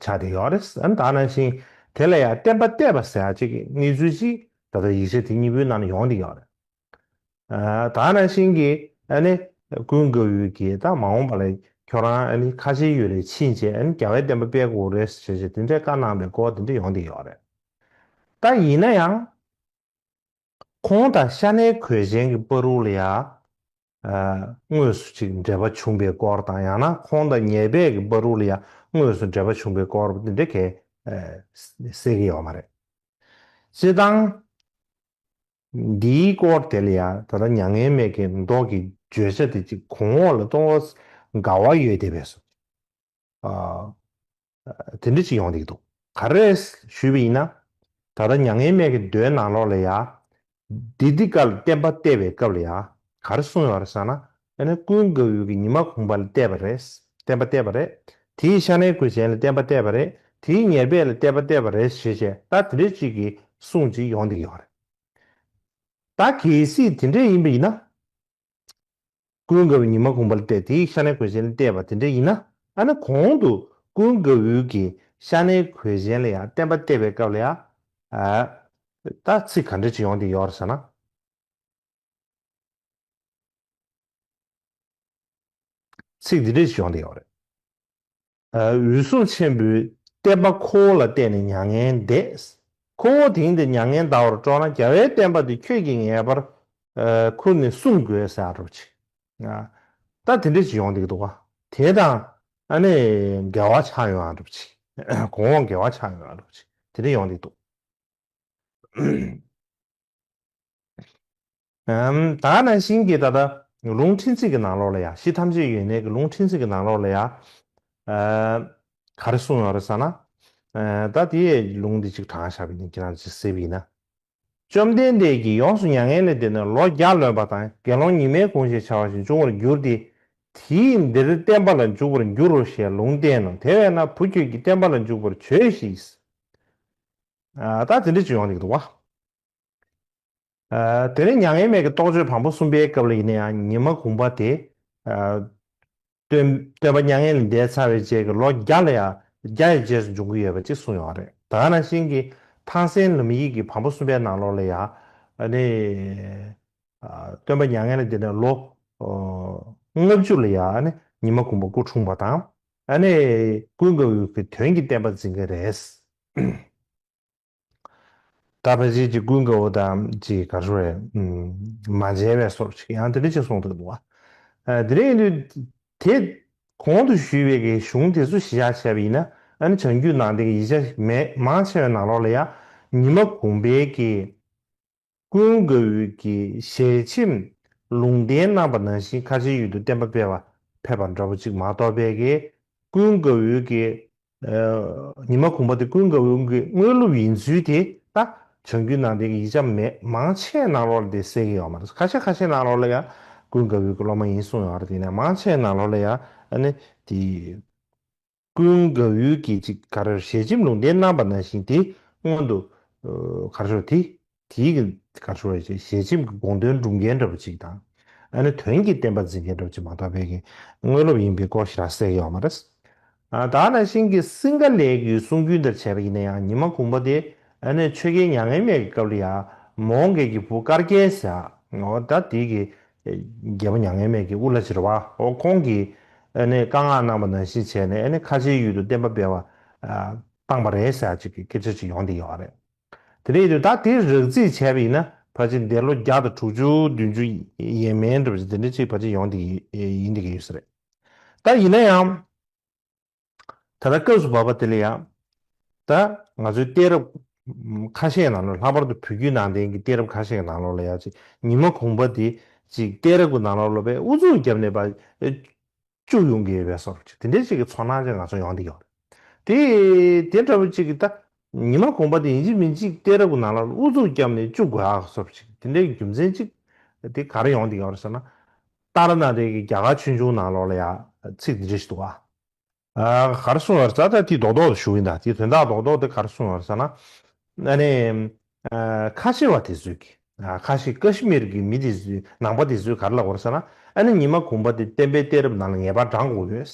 ཆགས་ཏེ་ཡོད་རེད་ཨ་ན་ད་ནང་བཞིན་དེ་ལ་ཡང་བསྟན་པ་གཏད་པ་ཟེར་ཅིག་གནས་ཚུལ་ཅིག་ད་ལྟ་ཡིག་ཆ་དེ་གཉིས་པོའི་ནང་ན་ཡོང་སྟེ་ཡོད་རེད་ཨ་ན་ད་ནང་བཞིན་གྱི་ཨ་ནི་ཀུན་དགའ་བོའི་གྱི་ད་མ་འོངས་པ་ལ་ཁྱོད་རང་ཨ་ནི་ཁ་ཆེ་ཡོད་རེད་ཕྱིན་ཆད་ཨ་ནི་རྒྱ་བལ་བསྟན་པ་སྤེལ་དགོས་རེད་ཟེར་ཞེས་དེ་འདྲའི་བཀའ་གནང་པའི་སྐོར་དེ་འདྲ་ཡོང་སྟེ་ཡོད་རེད་ད་ཡིན་ན་ཡང། ཁོང་དང་ཤ་ནའི་གོས་གཞན་གྱི་པཱ་རུའུ་ལ་ཡང། དངོས་སུ་ཅིག་འབྲེལ་པ་བྱུང་པའི་སྐོར་དང་ཡང་ན་ཁོང་དང་ཉེ་བས་ཀྱི་པཱ་རུའུ་ལ་ཡང་དངོས་སུ་འབྲེལ་པ་བྱུང་པའི་སྐོར་བ་འདི་འདྲ་གས་སེ་གི་ཡོག་མ་རེད། སྤྱི་བཏང། འདིའི་སྐོར་དེ་ལ་ཡང་ད་ལྟ་མྱ་ངན་མེད་ཀྱི་མདོག་གི་བརྗོད་བྱ་དེ་ཅིག་གོང་འོག་ལ་གཏོང་བ། དགའ་བ་ཡོད་དེ་བས་སོ། དེ་འདྲི་གཅིག་ཡོང་བསྡིགས་འདུག་ག་རེད་ཞུས་པ་ཡིན་ན། ད་ལྟ་མྱ་ངན་མེད་ཀྱི་མདོའི་ནང་ལོགས་ལ་ཡང། བདེ་སྡིག་དཀར་ལ་བསྟན་པ་བལྟས་པའི་སྐབས་ལ་ཡང་ག་རེ་གསུངས་ཡོང་རེད་བསམ་ན། ཡང་ན་ཀུན་དགའ་བོའི་གྱི་ཉི་མ་གུང་པ་ལ་བལྟས་པ་རེད། བསྟན་པ་བལྟས་པ་རེད། དེ་ཡི་ཤ་ནའི་གོས་ཅན་ལ་བསྟན་པ་བལྟས་པ་རེད། དེ་ཡི་ཉེར་སྦས་ལ་བལྟས་པ་བལྟས་པ་རེད་ཞེས་བྱས་ད་དེ་འདྲི་གཅིག་གི་གསུངས་གཅིག་ཡོང་བསྡིགས་ཡོང་རེད། ད་གལ་སྲིད་དེ་འདྲས་ཡིན་པ་ཡིན་ན། ཀུན་དགའ་བོའི་ཉི་མ་གུང་བར་བལྟས་དེའི་ཤ་ནའི་གོས་གཞན་ལ་བལྟས་པ་དེ་འདྲ་ཡིན་ན་ཨ་ན་གོང་དུ་ཀུན་དགའ་བོའི་གི་ཤ་ནའི་གོས་གཞན་ལ་ཡང་བསྟན་པ་བལྟས་པའི་སྐབས་ལ་ཡང་ད་ཚིག་ག་འདྲ་ཅིག་ཡོང་དེ་ཡོར་ཟེར་ན། ཚིག་འདི་འདྲ་ཅིག་ཡོང་དེ་ཡོར་རེད། འོད་སྲུང་ཆེན་པོས་བསྟན་པ་ཁོ་བོ་ལ་བསྟན་ནས་མྱ་ངན་འདས། ཁོ་བོ་དེང་འདིར་མྱ་ངན་འདའ་བར་སྤྲོ་ན་རྒྱལ་བའི་བསྟན་པ་འདི་ཁྱོད་ཀྱིས་ངེས་པར་ཁུར་ནས་སྲུང་དགོས་ཟེར་རོ་ཅིག། ད་དེ་འདྲའི་ཅི་ཡོང་འདུག་འདུག། དེ་དང་ཨ་ནི་འགལ་བ་ཆགས་ཡོང་ཨ་འགྲུབ་ཅིག། གོང་འོག་འགལ་བ་ཆགས་ཡོང་ཨ་འགྲུབ་ཅིག་དེ་འདྲའི་ཡོང་འདུག་འདུག། ད་ནང་བཞིན་གྱི་ད་ལྟ་ལུང་ཕྲན་ཚེགས་ཀྱི་ནང་ལོགས་ལ་ཡང་གཞི་ཐམས་ཅད་ཡོད་གནས་ཀྱི་ལུང་ཕྲན་ཚེགས་ཀྱི་ནང་ལོགས་ལ་ཡང། ག་རེ་གསུངས་ཡོང་རེད་ས་ན། ད་དེ་ཡས་ལུང་འདི་གཅིག་དྲང་བཞག་པའི་ཉིན་གྱི་ནང་གཅིག་གསལ་བས་ཡིན་ན། བཅོམ་ལྡན་འདས་ཀྱིས་ཡོངས་སུ་མྱ་ངན་ལས་འདས་ནས་ལོ་བརྒྱ་ལོན་པ་དང་དགེ་སློང་ཉི་མའི་གུང་ཞེས་བྱ་བ་ཞིག་འབྱུང་བར་འགྱུར་ཏེ། དེས་འདིར་བསྟན་པ་ལ་འཇུག་པར་འགྱུར་རོ་ཞེས་ལུང་བསྟན་ནོ་དེ་བས་ན་བུ་ཁྱོད་ཀྱིས་བསྟན་པ་ལ་འཇུག་པར་བྱོས་ཤིག། ད་དེ་འདྲ་ཅིག་ཡོང་ནས་ཀྱི་འདུག་བ། དེ་ནས་མྱ་ངན་མེད་ཀྱི་རྟོགས་བརྗོད་དང་པོ་གསུམ་པའི་སྐབས་ལ་ཡིན་ན་ཡང་ཉི་མ་གུང་པ་དེ། སྟོན་པ་མྱ་ངན་ལས་འདས་ཚར་བའི་རྗེས་ཀྱི་ལོ་བརྒྱ་ལ་ཡང་བརྒྱ་ཡི་རྗེས་སུ་འབྱུང་གི་ཡོད་པ་ཅིག་གསུངས་ཡོད་པ་རེད་ད་ནང་བཞིན་གྱི་ཐང་སན་ལུམ་ཡིག་གི་བམ་པོ་གསུམ་པའི་ནང་ལོགས་ལ་ཡང། སྟོན་པ་མྱ་ངན་ལས་འདས་ནས་ལོ་ལྔ་བཅུ་ལ་ཡང་ཉི་མ་གུང་པ་སྐུ་འཁྲུངས་པ་དང། ཀུན་དགའ་བོའི་དོན་གྱི་བསྟན་པ་འཛིན་གྱི་རེད། ད་ཕལ་ཆེར་གྱི་ཀུན་དགའ་བོ་དང་གྱི་ག་ཧྲུ་རེ། མ་མཇལ་བའི་སོར་ཅིག་ཡང་དེ་འདྲ་ཅིག་གསུངས་འདུག་གདུང་བ། དེ་རིང་དུས་དེ། གོང་དུ་ཞུས་པའི་གི་གཞུང་དེ་ཚོ་ཞི་བཞག་བྱས་པ་ཡིན་ན་ཨ་ནི་བྱང་རྒྱུད་ནང་བསྟན་གྱི་ཡིག་ཆ་མེད་མང་ཆེ་བའི་ནང་ལོགས་ལ་ཡང་ཉི་མ་གུང་པའི་གི། ཀུན་དགའ་འོད་ཀྱི་ཞལ་ཆེམས་ལུང་བསྟན་གནང་པ་ནང་བཞིན་ཁ་ཆེའི་ཡུལ་དུ་བསྟན་པ་སྤེལ་བར་ཕེབས་པ་འདྲ་བོ་ཅིག་མ་གཏོགས་དཔལ་ཀྱེ་ཀུན་དགའ་འོད་ཀྱི་ཉི་མ་གུང་པ་དེ་ཀུན་དགའ་འོད་ཀྱི་དངོས་ལུགས་ཡིན་ཚུལ་དེ་ད་བྱང་རྒྱུད་ནང་བསྟན་གྱི་ཡིག་ཆ་མེད་མང་ཆེ་གནང་ལོག་ལ་དེ་གསལ་གྱི་ཡོག་མ་རེད་ཁ་ཆེ་ཁ་ཆེ་གནང་ལོག་ལ་ཡང་ཀུན་དགའ་འོད་ཀྱི་སློབ་མ་ཡིན་གསུངས་ཡོག་རེད་དེ་ནས་མང་ཆེ་གནང་ལོག་ལ་ཡང་ཨ་ནི་དེ། ཀུན་དགའ་བོའི་སྐད་ཅིག་གར་ཞལ་ཆེམས་ལུང་བསྟན་གནང་པ་ནང་བཞིན་དེ་སྔོན་དུ། གར་ཤོར་དེ། དེའི་གིན། གར་ཤོར་བའི་ཞལ་ཆེམས་ཀྱི་དགོངས་དོན་སྒྲུབ་མཁན་འདྲ་པོ་གཅིག་དང། ཨ་ནི་དོན་གྱི་བསྟན་པ་འཛིན་མཁན་འདྲ་པོ་གཅིག་མ་གཏོགས་དཔལ་གྱི་དངོས་སློབ་ཡིན་པའི་སྐོར་ཞིག་ར་བསད་ཀྱི་ཡོད་མ་རེད། དྭགས་ནང་བཞིན་གྱི་སིང་ག་ལའི་གུའི་གསུང་རྒྱུན་ལྟར་བྱས་པ་ཡིན་ན་ཡང་ཉི་མ་གུང་པ་དེ་ཨ་ནི་ཆོས་རྒྱལ་མྱ་ངན་མེད་ཀྱི་སྐབས་ལ་ཡང་མོང་གེ་གྱི་བུ་དཀར་རྒྱལ་ཟེར་ཨོ་ད་དེའི་གིས་རྒྱལ་པོ་མྱ་ངན་མེད་ཀྱིས་དབུ་བླ་བྱེད་པ་འོ་ཁོང་གིས་ཨ་ནི་བཀའ་མངགས་གནང་བ་ནང་བཞིན་བྱས་ནས་ཨ་ནི་ཁ་ཆེའི་ཡུལ་དུ་བསྟན་པ་སྤེལ་བ་བཏང་བ་རེད་ཟེར་ཅིག་གི་སྐད་ཆ་ཅིག་ཡོང་དེ་ཡོད་རེད། དེ་རེད་དུས་ད་དེ་རགས་རྩིས་བྱས་པ་ཡིན་ན་ཕ་ཆེ་འདས་ལོ་བརྒྱ་དང་དྲུག་ཅུ་བདུན་ཅུ་ཡན་མན་གྲུབ་ཅིག་དེ་འདྲ་ཅིག་ཕ་ཆེ་ཡོང་དེ་ཡིན་དེ་གི་ཡོད་ས་རེད། ད་ཡིན་ན་ཡང། ད་ལྟ་སྐབས་སུ་བབས་པ་དེ་ལ་ཡང། ད་ང་ཚོའི་གཏད་རབས་ཁ་ཤས་ནང་ལོགས་ལྷག་པར་དུ་བོད་བརྒྱུད་ནང་བསྟན་གྱི་གཏད་རབས་ཁ་ཤས་ཀྱི་ནང་ལོགས་ལ་ཡང་ཅིག་ཉི་མ་གུང་པ་དེ་ཅིག་གཏད་རབས་ཀྱི་ནང་ལོགས་ལོ་པས་ཨུ་ཚུགས་བརྒྱབ་ནས་པ་བཅུག་ཡོང་གི་ཡོད་པས་སོར་ཅིག་དེ་འདྲའི་ཅིག་གི་ཚོར་སྣང་ཅིག་ང་ཚོར་ཡོང་འདི་ཡོད། དེ་དེ་འདྲ་བོ་ཅིག་གི་ད་ཉི་མ་གུང་པ་དེ་ཡིན་ཅིག་མིན་ཅིག་གཏད་རབས་ཀྱི་ནང་ལོགས་ལ་ཨུ་ཚུགས་བརྒྱབ་ནས་བཅུག་དགོས་ཨ་སོར་ཅིག་དེ་འདྲའི་རྒྱུ་མཚན་ཅིག་དེ་ག་རེ་ཡོང་འདི་ཡོད་ཟེར་ན། ཏཱ་ལ་ནཱ་ཏའི་གི་རྒྱ་གར་ཆོས་འབྱུང་ནང་ལོགས་ལ་ཡང་ཚིག་འདི་འདྲས་ཤིག་འདུག་ཨ། གར་སོང་བར་ས་ད་དེའི་རྡོག་རྡོག་དུ་ཞུགས་ཡིན་ད་དེའི་དོན་དག་རྡོག་རྡོག་དེ་གར་སོང་བར་ས་ན། ཨ་ནི། ཁ་ཆེ་བ་དེ་ཚོས་གི་ཨ་ཁ་ཤི་ཀ་ཤི་མིར་གི་མི་དེ་ཚོས་ནང་པ་དེ་ཚོས་གར་ལབ་བར་ས་ན་ཨ་ནི་ཉི་མ་གུང་པ་དེ་བསྟན་པའི་གཏད་རབས་ནང་ལ་ངེས་པར་བགྲང་དགོས་ཡོད།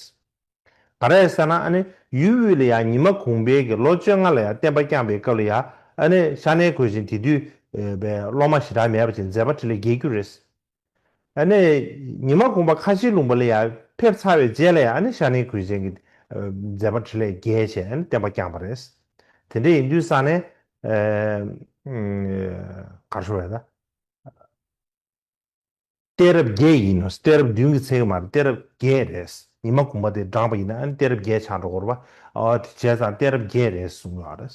ག་རེ་ས་ན་ཨ་ནི་ཡུལ་དབུས་ལ་ཡང་ཉི་མ་གུང་པའི་གི་ལོ་བཅོ་ལྔ་ལ་ཡང་བསྟན་པ་བསྐྱངས་པའི་སྐབས་ལ་ཡང་ཨ་ནི་ཤ་གནད་གོས་ཅན་དེ་དུས་པའི་སློབ་མ་ཞེ་དྲག་མེད་པ་ཅན་མཛད་པ་ཁྲི་ལས་བརྒལ་རྒྱུ་རེད། ཨ་ནི། ཉི་མ་གུང་པ་ཁ་ཆེའི་ལུང་པ་ལ་ཡང་ཕེབས་ཚར་བའི་རྗེས་ལ་ཡང་ཨ་ནི་ཤར་ནའི་གུས་ཅན་གྱི་མཛད་པ་ཁྲི་ལས་རྒྱལ་ཞེས་ཨ་ནི་བསྟན་པ་བསྐྱངས་པ་རེད། དེ་འདྲ་ཡིན་དུས་ས་ནས། གར་ཤོར་བས་ན། གཏད་རབས་བརྒྱད་ཡིན་ནོ་གཏད་རབས་བདུན་གྱི་ཚེ་གི་མ་རེད་གཏད་རབས་བརྒྱད་རེད། ཉི་མ་གུང་པ་དེ་བགྲངས་པ་ཡིན་ན་ཨ་ནི་གཏད་རབས་བརྒྱད་ཆགས་འགྲོ་གོ་རེ་བ། དེ་བྱས་ཙང་གཏད་རབས་བརྒྱད་རེད་གསུངས་ཡོད་རེད།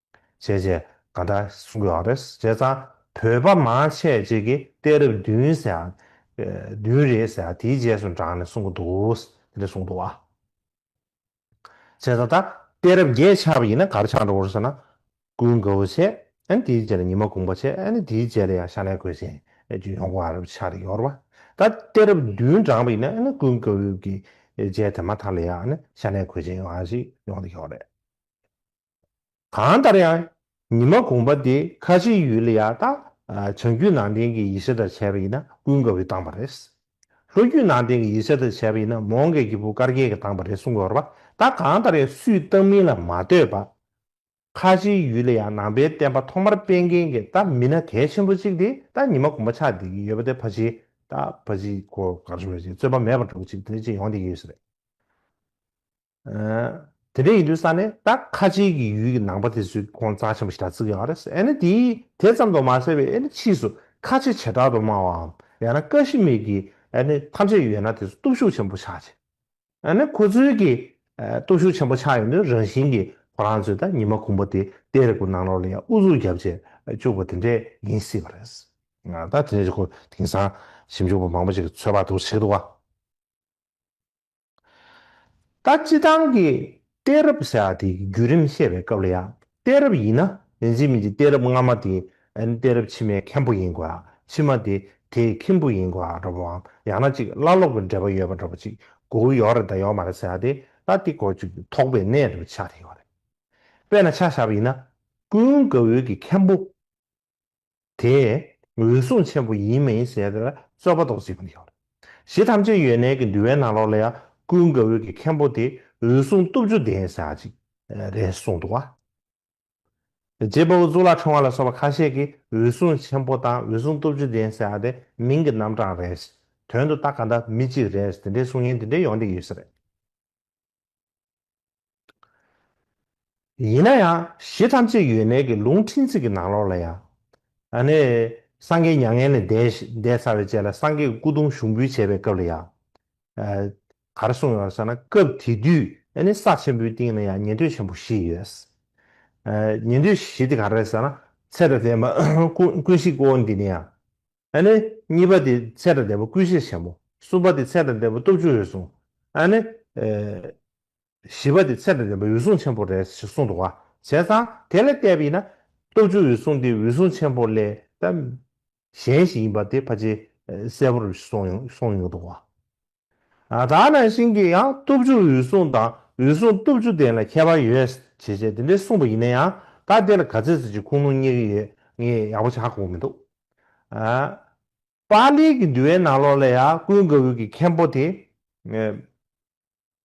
བྱས་རྗེས་ག་འདྲ་གསུང་དགོས་ཨང་རེད་བྱས་ཙང་བོད་པ་མང་ཆེ་གཅིག་གི་གཏད་རབས་བདུན་ཟེར་ཨང་བདུན་རེད་ཟེར་ཨང་དེའི་རྗེས་སུ་འབྲངས་ནས་གསུང་གི་འདུག་དེ་འདྲ་གསུང་འདུག་ཨང། བྱས་ཙང་ད་གཏད་རབས་བརྒྱད་ཆགས་པ་ཡིན་ན་གར་ཆགས་འགྲོ་འོང་ཟེར་ན་སྐུལ་དགོས་པོ་ཆེ་ཨང་དེའི་རྗེས་ལ་ཉི་མ་དགུང་པ་ཆེ་ཨང་དེའི་རྗེས་ལ་ཡང་ཤ་ནའི་གོས་ཅན་རྒྱུ་ཡོང་དགོས་ཨང་རེད་ཆགས་རེད་ཡོར་བ་ད་གཏད་རབས་བདུན་འབྲངས་པ་ཡིན་ན་སྐུལ་དགོས་པོ་ཡོད་ཀི་རྗེས་དེ་མ་ཐག་ལ་ཡང་ཤ་ནའི་གོས་ཅན་ཡོང་ཨང་ཞིག་ཡོང་དེ་ཡོར་རེད། གང་ལྟར་ཡང་ཉི་མ་དགོངས་པ་འདི་ཁ་ཆེའི་ཡུལ་ལ་ཡང་དག་བྱང་རྒྱུད་ནང་བསྟན་གྱི་ཡེ་ཤེས་དང་བྱ་བ་ཡིན་ན་ཀུན་དགའ་བོས་བཏང་བ་རེད། ལྷོ་རྒྱུད་ནང་བསྟན་གྱི་ཡེ་ཤེས་དང་བྱ་བ་ཡིན་ན་མོའོ་མཁན་གྱི་བུ་དཀར་རྒྱལ་གྱིས་བཏང་བ་རེད་གསུངས་འོར་བ་ད་གང་ལྟར་ཡང་སུས་བཏང་མིན་ལ་མ་ལྟོས་པ། ཁ་ཆེའི་ཡུལ་ལ་ཡང་ནང་པའི་བསྟན་པ་ཐོག་མར་སྤེལ་མཁན་གྱི་ད་མི་སྣ་གལ་ཆེན་པོ་གཅིག་དེ་ད་ཉི་མ་དགོངས་པ་ཆགས་བསྡད་ཀྱི་ཡོད་པ་དེ་ཕ་ཆེའི་ད་ཕ་ཆེའི་སྐོར་གར་བྱུང་བ་ཅིག་རྩོད་པ་མེད་པར་འགྲོ་གི་ཅིག་དེ་ཅིག་ཡོང་བསྡད་ཀྱི་ཡོད་ས་རེད། དེ་འདྲའི་ཡིན་དུས་ས་ནས་ད་ཁ་ཆེའི་གི་ཡུལ་གི་ནང་པ་དེ་ཚོའི་ཁོང་རྩ་ཆེན་པོ་ཞིག་དྲ་ཚིག་ཡོང་བ་རེད་ཨེ་ནི་དེའི་དེ་ཙམ་དུ་མ་ཟད་པའི་ཨེ་ནི་ཕྱིས་སུ་ཁ་ཆེ་བྱེ་བྲག་ཏུ་སྨྲ་བའམ་ཡང་ན་ཀ་ཤི་མིར་གི་ཨེ་ནི་ཐམས་ཅད་ཡོད་ན་དེ་ཚོ་སྟོབས་ཤུགས་ཆེན་པོ་ཆགས་ཆེ་ཨེ་ནི་ཁོ་ཚོའི་གི་སྟོབས་ཤུགས་ཆེན་པོ་ཆགས་ཡོང་དུས་རང་བཞིན་གི་ཁོ་རང་ཚོས་ད་ཉི་མ་གུང་པོ་དེ་དེ་རེ་གུ་ནང་ལོག་ལ་ཡང་ཨུ་ཚུགས་རྒྱབ་བྱེད་བཅུག་པ་དེ་འདྲས་ཡིན་སྲིད་པ་རེད། ད་དེ་འདྲས་ཀྱི་སྐོར་དེང་སང་ཞིབ་འཇུག་པ་མང་པོ་ཞིག་གི་ཚོད་དཔག་ཏུ་བྱེད་འདུག་བ། ད་སྤྱི་དང་གི་གཏད་རབས་ཟེར་བ་དེ་བརྒྱུད་རིམ་བཤད་པའི་སྐབས་ལ་ཡང་གཏད་རབས་ཡིན་ན་རིན་ཆེན་མི་འདི་གཏད་རབས་སྔ་མ་དེ་གཏད་རབས་ཕྱི་མའི་མཁན་པོ་ཡིན་དགོས་ལ་ཕྱི་མ་དེ་དེའི་ཁྱིམ་བུ་ཡིན་དགོས་འདྲ་བོའམ་ཡང་ན་ཅིག་བླ་སློབ་ཀྱི་འབྲེལ་པ་ཡོད་པ་འདྲ་བོ་ཅིག་གོ་འུ་ཡོག་རེད་ད་ཡོག་མ་རེད་ཟེར་བ་དེ་ད་དེ་གོ་ཅིག་དོགས་པའི་གནས་འདྲ་བོ་ཆགས་ཐེངས་ཡོག་རེད་དཔེར་ན་ཆ་བཞག་པ་ཡིན་ན་ཀུན་དགའ་བོའི་གི་མཁན་པོ། དེས་འོད་སྲུང་ཆེན་པོ་ཡིན་མིན་ཞེས་དེ་ལ་རྩོད་པ་དོགས་ཅི་ཙམ་བྱུང། གཞི་ཐམས་ཅད་ཡོན་གནས་ཀྱི་འདུལ་བའི་ནང་ལོགས་ལ་ཡང་ཀུན་དགའ་བོས་ཀྱི་མཁན་པོ་དེ་འོད་སྲུང་བཏུབ་ཅོ་ལྡན་བྱ་ཅིག། རེ་གསུངས་འདུག་བ། རྗེ་དཔའ་བོ་གཙུག་ལག་ཁྲོམ་བ་ལ་སོགས་པ་ཁ་ཤས་ཀྱིས་འོད་སྲུང་ཆེན་པོ་དང་འོད་སྲུང་བཏུབ་ཅོ་ལྡན་བྱ་དེ་མིང་གི་རྣམ་གྲངས་རེད། དོན་དུ་རྟགས་ག་འདྲ་མི་གཅིག་རེད་དེ་འདྲའི་གསུང་ཡན་དེ་འདྲའི་ཡོང་དེ་ཡོད་ས་རེད། ཡིན་ན་ཡང་གཞི་ཐམས་ཅད་ཡོད་མེད་ཀྱི་ལུང་ཕྲན་ཚེགས་ཀྱི་ནང་ལོགས་ལ་ཡང། ད་ནི་སངས་རྒྱས་མྱ་ངན་ལས་འདས་ཚར་བའི་རྗེས་ལ་སངས་རྒྱས་ཀྱི་སྐུ་གདུང་ཞུགས་འབུལ་བྱེད་པའི་སྐབས་ལ་ཡང། གར་གསུངས་ཡོད་ཟེར་ན་སྐབས་དེ་དུས་ནི་ས་ཆེན་པོའི་སྟེང་ན་ཡང་ཉན་ཐོས་ཆེན་པོ་བཞི་ཡོད། ཉན་ཐོས་བཞི་དེ་ག་རེ་ཟེར་ན་ཚད་དང་ལྡན་པ་ཀུན་གཞི་ཀོ་འདི་ནི་ཡང། ཨ་ནི། གཉིས་པ་དེ་ཚད་དང་ལྡན་པ་ཀུན་ཤེས་ཆེན་མོ། གསུམ་པ་དེ་ཚད་དང་ལྡན་པ་སྟོབས་བཅུ་འོད་སྲུང། ཨ་ནི། བཞི་པ་དེ་ཚད་དང་ལྡན་པ་འོད་སྲུང་ཆེན་པོ་རེད་ཞེས་གསུངས་འདུག་བ་བྱས་ཙང་དེ་ལས་བལྟས་པ་ཡིན་ན། སྟོབས་བཅུ་འོད་སྲུང་དེ་འོད་སྲུང་ཆེན་པོ་ལས་ཀྱང་གཞན་ཞིག་ཡིན་པ་དེ་ཕལ་ཆེར་གསལ་པོར་གསུངས་ཡོང་གི་འདུག་བ། ད་ནང་བཞིན་གྱི་ཡང་སྟོབས་བཅུ་འོད་སྲུང་དང་འོད་སྲུང་སྟོབས་བཅུ་ལྡན་ལ་ཁྱད་པར་ཡོད་ཞེས་བྱས་དེ་འདྲའི་གསུངས་པ་ཡིན་ན་ཡང་ད་དེ་ལ་ག་ཚད་ཟེར་གྱི་ཁུངས་ལུང་རྙེད་ཀྱི་ཡོད་ངེས་ཡག་པོ་ཆགས་དགོས་མི་འདུག་ཨ། པཱ་ལིའི་གི་འདུལ་བའི་ནང་ལོགས་ལ་ཡང་ཀུན་དགའ་བོའི་གི་མཁན་པོ་དེ།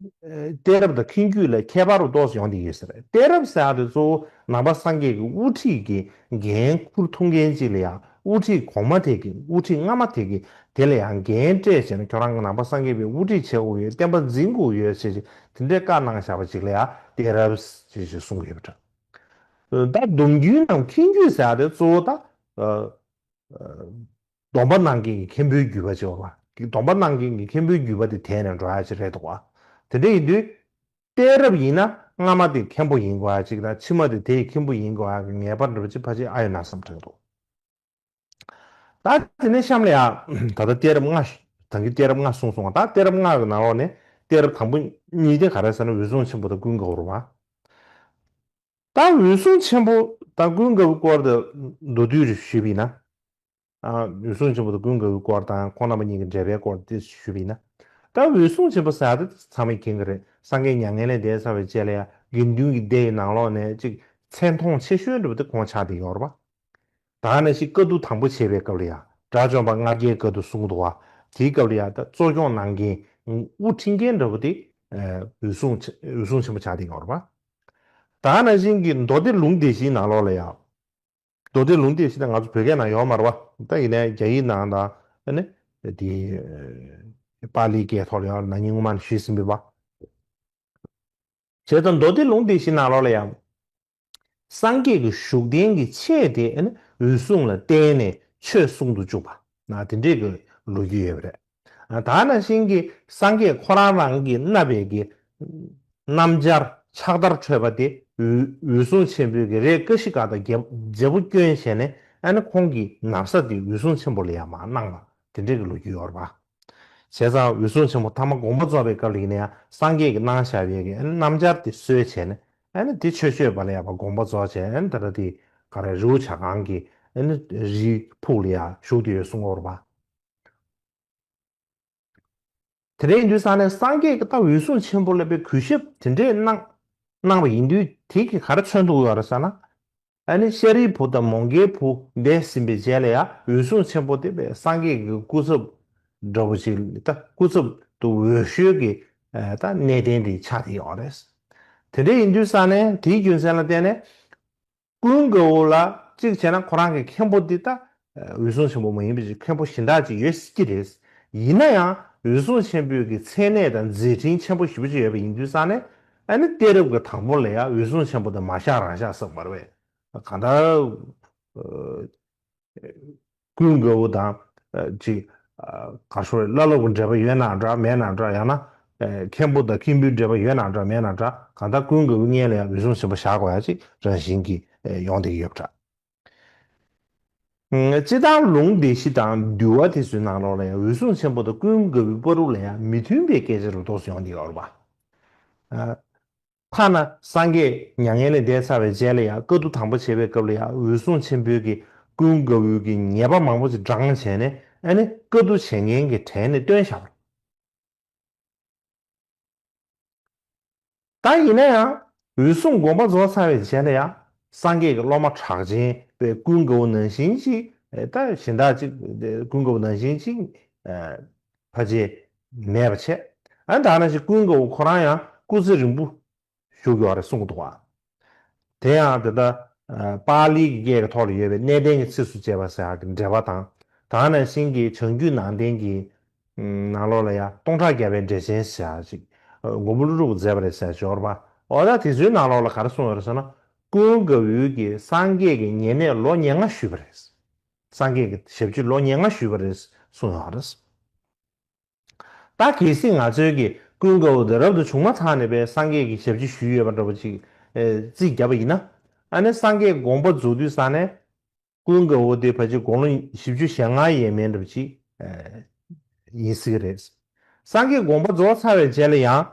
གཏད་རབས་དང་ཁྱིམ་རྒྱུད་ལ་ཁྱད་པར་རོ་ཏོགས་སུ་ཡོང་དེ་ཡོད་ཟེར་གཏད་རབས་ཟེར་བ་དེ་གཙོ་བོ་ནང་པ་སངས་རྒྱས་ཀྱི་དབུ་ཁྲིད་ཀྱི་འགན་ཁུར་ཐུབ་མཁན་གཅིག་ལ་ཡང་དབུ་ཁྲིད་གོང་མ་དེ་གི་དབུ་ཁྲིད་སྔ་མ་དེ་གི་དེ་ལ་ཡང་འགན་སྤྲད་བྱས་ན་ཁྱོད་རང་གི་ནང་པ་སངས་རྒྱས་པའི་དབུ་ཁྲིད་བྱེད་དགོས་ཡོད་བསྟན་པ་འཛིན་དགོས་ཡོད་ཞེས་ཞེས་དེ་འདྲའི་བཀའ་གནང་བཞག་པ་གཅིག་ལ་ཡང་གཏད་རབས་ཞེས་ཞེས་གསུངས་ཡོད་པ་འདྲ། ད་སྡོམ་རྒྱུན་ནམ་ཁྱིམ་རྒྱུད་ཟེར་བ་དེ་གཙོ་བོ་ད། སྡོམ་པ་གནང་མཁན་གྱི་མཁན་པོའི་བརྒྱུད་པ་ཅེས་པ། སྡོམ་པ་གནང་མཁན་གྱི་མཁན་པོའི་བརྒྱུད་པ་དེ་དེས་ནི་འགྲོ་ཡ་གཅིག་རེད་དོ། དེ་འདྲ་ཡིན་དུས། གཏད་རབས་ཡིན་ན་སྔ་མ་དེ་མཁན་པོ་ཡིན་དགོས་ཡ་གཅིག་དང་ཕྱི་མ་དེ་དེའི་མཁན་པོ་ཡིན་དགོས་ཡ་གཅིག་ངེས་པར་འགྲུབ་ཅེས་ཕ་ཆེན་ཨ་ཡོད་ན་བསམ་དྲན་འདུག། ད་དེ་ནས་གཤམ་ལ་ཡང་ད་ལྟ་གཏད་རབས་ལྔ། དང་གི་གཏད་རབས་ལྔ་གསུངས་སོང་བ་དང་གཏད་རབས་ལྔ་གི་ནང་ལོགས་ནས་གཏད་རབས་དང་པོ་གཉིས་དེ་ག་རེ་ཟེར་ན་འོད་སྲུང་ཆེན་པོ་དང་ཀུན་དགའ་བོར་བ། ད་འོད་སྲུང་ཆེན་པོ་དང་ཀུན་དགའ་བོའི་སྐོར་དུ་མདོ་བསྡུས་རེ་ཞུས་པས་ན། འོད་སྲུང་ཆེན་པོ་དང་ཀུན་དགའ་བོའི་སྐོར་དང་ཁོང་རྣམ་པ་གཉིས་ཀྱི་འབྲེལ་པའི་སྐོར་དུ་ཞུས་པས་ན། ད་འོད་སྲུང་ཆེན་པོ་ཟད་ད་ཚང་མས་མཁྱེན་གྱི་རེད་སངས་རྒྱས་མྱ་ངན་ལས་འདས་ཚར་བའི་དཔྱད་ལ་ཡང་དགེ་འདུན་གྱི་སྡེ་ཡི་ནང་ལོགས་ནས་གཅིག་མཚན་མཐོང་ཆེ་ཤོས་འགྲུབ་སྟེ་ཁོང་ཕྱག་དེ་ཡོར་བ་དག་ནས་ཤིག་བཀའ་བསྡུ་དང་པོ་བྱེད་པའི་སྐབས་ལ་ཡང་དགྲ་བཅོམ་པ་ལྔ་བརྒྱའི་བཀའ་བསྡུ་གསུང་དུ་བ་དེའི་སྐབས་ལ་ཡང་ད་གཙོ་སྐྱོང་གནང་མཁན་དབུ་འཁྲིད་མཁན་འདྲ་བོ་དེ་འོད་སྲུང་ཆེན་པོ་ཕྱག་དེ་ཡོར་བ། ད་ནང་བཞིན་གྱི་མདོ་སྡེ་ལུང་དེ་བཞིན་ནང་ལོགས་ལ་ཡང། མདོ་སྡེ་ལུང་དེ་བཞིན་ནང་ང་ཚོ་བོད་སྐད་ནང་ཡོག་མར་བ་དང་ཡིན་ནའི་རྒྱ་ཡིག་ནང་དང། ནི། དེ། པཱ་ལིའི་སྐད་ཐོག་ལ་ཡང་ནང་ཉིང་ངུ་མ་ནི་ཞུས་ཟིན་པའི་བ། བྱས་ཙང་མདོ་སྡེ་ལུང་དེ་བཞིན་ནང་ལོགས་ལ་ཡང། སངས་རྒྱས་ཀྱི་བཞུགས་གདན་གྱི་ཆས་དེ་ནི་འོད་སྲུང་ལ་བརྟེན་ནས་ཆོས་གསུང་དུ་བཅུག་པ་ན་དེ་འདྲའི་གི་ལོ་རྒྱུས་ཡོད་པ་རེད། དག་ན་བཞིན་གྱི་སངས་རྒྱས་ཁོ་རང་རང་གི་རྣ་བས་ཀྱི། སྣམ་སྦྱར་ཕྱག་དར་འཕྲོས་པ་དེ་འོད་སྲུང་ཆེན་པོའི་གི་རེ་ཀ་ཤི་ཀ་དང་རྒྱལ་པོ་སྐྱོན་བྱས་ནས་ཨ་ནི་ཁོང་གི་ནར་ས་དེ་འོད་སྲུང་ཆེན་པོ་ལ་ཡང་མ་གནང་བ་དེ་འདྲས་ཀྱི་ལོ་རྒྱུས་ཡོད་ར་བ། བྱས་ཙང་འོད་སྲུང་ཆེན་པོ་ཐ་མ་དགོངས་པ་རྫོགས་པའི་སྐབས་ལིག་ནས་ཡང་སངས་རྒྱས་ཀྱི་སྣང་བཞག་བས་ཀྱི་ཨ་ནི་སྣམ་སྦྱར་དེ་གསོལ་བྱས་ནས་ཨ་ནི་དེ་ཆོས་སྤྱོད་པ་ལ་ཡང་བ་དགོངས་པ་རྫོགས་བྱས་ཨ་ནི་ད་ར་དེ་ག་ར་རི་བོ་བྱ་གང་གི་ཨ་ནི་རིའི་ཕུག་ལ་ཡང་བཞུགས་དེ་ཡོད་གསུང་ངོ་ར་བ། དེ་འདྲའི་ཡིན་དུས་ས་ནས་སངས་རྒྱས་ཀྱི་རྟགས་འོད་སྲུང་ཆེན་པོ་ལ་བའི་གུས་ཞབས་དེ་འདྲས་གནང་གནང་བ་ཡིན་དུས་དེ་གིས་ག་རེ་མཚོན་དུ་འོས་བ་རེད་ས་ན། ཨ་ནི་ཤཱ་རིའི་བུ་དང་མོང་གའི་བུ་འདས་ཟིན་པའི་རྗེས་ལ་ཡང་འོད་སྲུང་ཆེན་པོ་དེ་བས་སངས་རྒྱས་ཀྱི་སྐུ་ཚབ་འདྲ་བོ་ཞིག་ལ་དང་སྐུ་ཚབ་ཏུ་འོས་ཤོས་ཀྱི་དང་གནས་བརྟན་དེ་ཆགས་དེ་ཡོང་བ་རེད། དེ་འདྲས་ཡིན་དུས་ས་ནས་དེའི་རྒྱུ་མཚན་ལ་བརྟེན་ནས་ཀུན་དགའ་བོ་ལགས་གཅིག་བྱས་ན་ཁོ་རང་གི་མཁན་པོ་འདི་ད་འོད་སྲུང་ཆེན་པོ་མ་ཡིན་པའི་མཁན་པོ་གཞན་དག་ཅིག་ཡོད་སྲིད་ཀྱི་རེད། ཡིན་ན་ཡང་འོད་སྲུང་ཆེན་པོས་ཀྱི་མཚན་གནས་དང་མཛད་འཕྲིན་ཆེན་པོ་བཞི་པོ་ཅིག་ཡོད་པ་ཡིན་དུས་སང་ནས་ཨ་ནི་གཏད་རབས་ཀྱི་དང་པོ་ལ་ཡང་འོད་སྲུང་ཆེན་པོ་དེ་མ་བཞག་རང་བཞག་བསགས་པར་བས་གང་ལྟར། ཀུན་དགའ་བོ་དང། ཅིག། ག་ཤོར་བའི་བླ་སློབ་ཀྱི་འབྲེལ་པ་ཡོད་ན་འདྲ་མེད་ན་འདྲ་ཡང་ན། མཁན་པོ་དང་མཁན་པོའི་འབྲེལ་པ་ཡོད་ན་འདྲ་མེད་ན་འདྲ་གང་ལྟར་ཀུན་དགའ་བོའི་གཉེན་ལ་ཡང་རུལ་སུངས་ཟིན་པ་བཞག་པ་ཡང་ཅིག་རང་བཞིན་གྱིས་ཡོང་བསྡད་ཀྱི་ཡོད་པ་འདྲ། སྤྱི་བཏང་ལུང་སྡེ་བཞི་དང་འདུལ་བ་དེ་ཚོའི་ནང་ལོགས་ལ་ཡང་འོད་སྲུང་ཆེན་པོ་དང་ཀུན་དགའ་བོའི་དཔའ་རུ་ལ་ཡང་མི་མཐུན་པའི་སྐད་ཆ་རུ་དོགས་སུ་ཡོང་བསྡད་ཡོད་པ་འདྲ། ཐ་ན་སངས་རྒྱས་མྱ་ངན་ལས་འདས་ཚར་བའི་རྗེས་ལ་ཡང་བཀའ་བསྡུ་དང་པོ་བྱེད་པའི་སྐབས་ལ་ཡང་འོད་སྲུང་ཆེན་པོའི་གིས་ཀུན་དགའ་བོའི་གིས་ཉེས་པ་མང་པོ་ཅིག་བགྲང་བྱས་ནས་ཨ་ནི་བཀའ་བསྡུ་བྱེད་མཁན་གྱི་གྲལ་ནས་བཏོན་བཞག་པ་དང་ཡིན་ན་ཡང་འོད་སྲུང་དགོངས་པ་རྫོགས་ཚར་བའི་རྗེས་ལ་ཡང་སངས་རྒྱས་ཀྱི་སློབ་མ་གྲགས་ཆེན་པས་ཀུན་དགའ་བོ་ནང་བཞིན་ཅིག་ད་གཞན་དག་ཅིག་ཀུན་དགའ་བོ་ནང་བཞིན་ཅིག། བ་རྗེས་མེད་པར་བྱས། ཨ་མདའ་ན་ཅིག་ཀུན་དགའ་བོ་ཁོ་རང་ཡང་སྐུ་ཚེ་རིང་པོ་བཞུགས་ཡོད་རེད་གསུངས་འདུག་བ། དེ་ཡང་དེ་ལྟར་པ་ལིའི་གི་སྐད་ཀྱི་ཐོག་ལ་ཡོད་པའི་གནས་བརྟན་གྱི་ཚིགས་སུ་བཅད་པ་ཟེར་བ་གྱི་འགྲེལ་པ་དང་དང་ནང་བཞིན་གྱི་བྱང་རྒྱུད་ནང་བསྟན་གྱི་ནང་ལོགས་ལ་ཡང་སྟོང་ཕྲག་བརྒྱ་པའི་འགྲེལ་ཆེན་ཟེར་བ་ཅིག་མགོན་པོ་ཀླུ་སྒྲུབ་པོ་མཛད་པ་རེད་ཟེར་སྦྱོར་བ་འོ་ད་དེ་ཚོའི་ནང་ལོགས་ལ་ག་རེ་གསུངས་ཡོད་རེད་ཟེར་ན་ཀུན་དགའ་བོའི་གི་སངས་རྒྱས་ཀྱི་ཉེ་གནས་ལོ་ཉེར་ལྔ་བཞུགས་པ་རེད། སངས་རྒྱས་ཀྱི་ཞབས་ཕྱི་ལོ་ཉེར་ལྔ་ཞུས་པ་རེད་གསུངས་ཡོང་བ་རེད། ད་གལ་སྲིད་ང་ཚོའི་གི་ཀུན་དགའ་བོ་དེ་རབ་ཏུ་བྱུང་མ་ཐག་ནས་པས་སངས་རྒྱས་ཀྱི་ཞབས་ཕྱི་ཞུས་ཡོད་པ་འདྲ་པོ་ཅིག་རྩིས་བརྒྱབ་པ་ཡིན་ན། ཨ་ནེ་སངས་རྒྱས་དགོངས་པ་རྫོགས་དུས་ས་ནས་ཀུན་དགའ་བོ་དེ་ཕ་ཆེ་དགོང་ལོ་བཞི་བཅུ་ཞེ་ལྔ་ཡས་མས་འདྲ་པོ་ཅིག་ཡིན་སྲིད་གི་རེད། སངས་རྒྱས་དགོངས་པ་རྫོགས་ཚར་བའི་རྗེས་ལ་ཡང་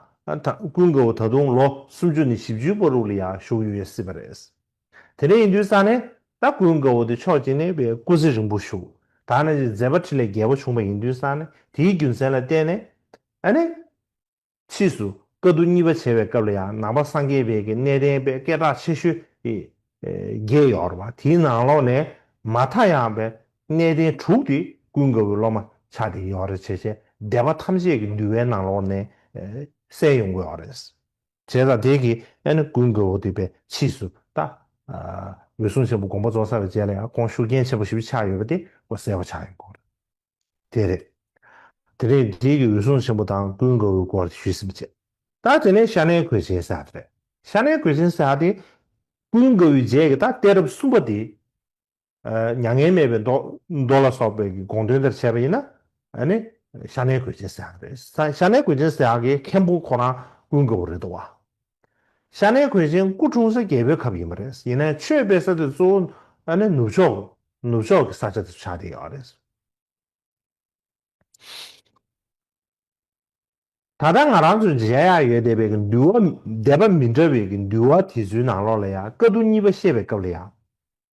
ཀུན་དགའ་བོ་ད་དུང་ལོ་སུམ་ཅུ་ནས་བཞི་བཅུའི་སྤོ་རུག་ལ་ཡང་བཞུགས་ཡོད་སྲིད་པ་རེད། དེ་ནས་ཡིན་དུས་ས་ནས་ད་སྐུའི་མགོ་བོ་དེ་ཕྱོགས་གཅིག་ནས་བའི་སྐུ་ཚེ་རིང་པོ་བཞུགས། ད་ནས་ཀྱི་མཛད་པ་ཁྲི་ལས་རྒྱལ་པོ་བྱུང་བ་ཡིན་དུས་ས་ནས་དེའི་རྒྱུ་མཚན་ལ་བརྟེན་ནས། ཨ་ནི། ཕྱིས་སུ་བཀའ་བསྡུ་གཉིས་པ་བྱེད་པའི་སྐབས་ལ་ཡང་ནང་པ་སངས་རྒྱས་དཔལ་གྱི་གནས་བསྟན་པའི་སྐད་གྲགས་ཆེ་ཤོས་བརྒྱད་ཡོར་བ་དེའི་ནང་ལོགས་ནས་མ་མཐའ་ཡང་བའི་གནས་བསྟན་དྲུག་དེ་སྐུའི་མགོ་བོའི་སློབ་མ་ཕྱག་དེ་ཡོར་རེ་བྱེད་བྱེད་སྡེ་པ་ཐམས་ཅད་ཀྱི་འདུལ་བའི་ནང་ལོགས་ནས་གསལ་ཡོང་གི་ཡོར་རེད། བྱས་དང་དེ་ཀྱིས་ཨེ་ནི་ཀུན་དགའ་བོ་འདུས་པའི་ཕྱིས་སུ་བལྟ། འོད་སྲུང་ཆེན་པོ་དགོངས་པ་རྫོགས་ཚར་བའི་རྗེས་ལ་ཡང་ཁོང་ཤུགས་རྐྱེན་ཆེན་པོ་ཞིག་ཆགས་ཡོད་པ་དེ་ཀོ་གསལ་བོ་ཆགས་ཡོད་སྐོར་དེ་རེད། དེ་ནས་རྗེས་ཀྱི་འོད་སྲུང་ཆེན་པོ་དང་ཀུན་དགའ་བོའི་སྐོར་དེ་ཞུས་ཟིན་པ་བྱས། ད་དེ་ནས་ཤ་ནའི་གོས་ཆེན་བསགས་དེ་རེད། ཤ་ནའི་གོས་ཆེན་བསགས་དེ། ཀུན་དགའ་བོའི་རྗེས་ཀྱི་ད་གཏད་རབས་གསུམ་པ་དེ། མྱ་ངན་མེད་པའི་མདོ་ལ་སོགས་པའི་དགོངས་དོན་དེར་བྱས་པ་ཡིན་ན། ཤ་ནའི་གོས་ཅན་སྲེག་རེད། ཤ་ནའི་གོས་ཅན་སྲེག་གི་མཁན་པོ་ཁོ་རང་ཀུན་དགའ་བོ་རེད་འདུག་བ། ཤ་ནའི་གོས་ཅན་སྐུ་འཁྲུངས་ས་རྒྱལ་པོའི་ཁབ་ཡིན་པ་རེད། ཡིན་ན་ཆོས་སྤེལ་ས་དེ་གཙོ་བོ་ནུབ་ཕྱོགས་ནུབ་ཕྱོགས་ཀྱི་ས་ཆ་དེ་ཆགས་བསྡད་ཡོད་རེད། ད་ལྟ་ང་རང་ཚོའི་མཇལ་ཡག་ཡོད་བསྡད་པའི་འདུལ་བ་བསྡད་པ་མི་འདྲ་བའི་འདུལ་བ་དེ་ཚོའི་ནང་ལོགས་ལ་ཡང་བཀའ་བསྡུ་གཉིས་པ་བཤད་པའི་སྐབས་ལ་ཡང།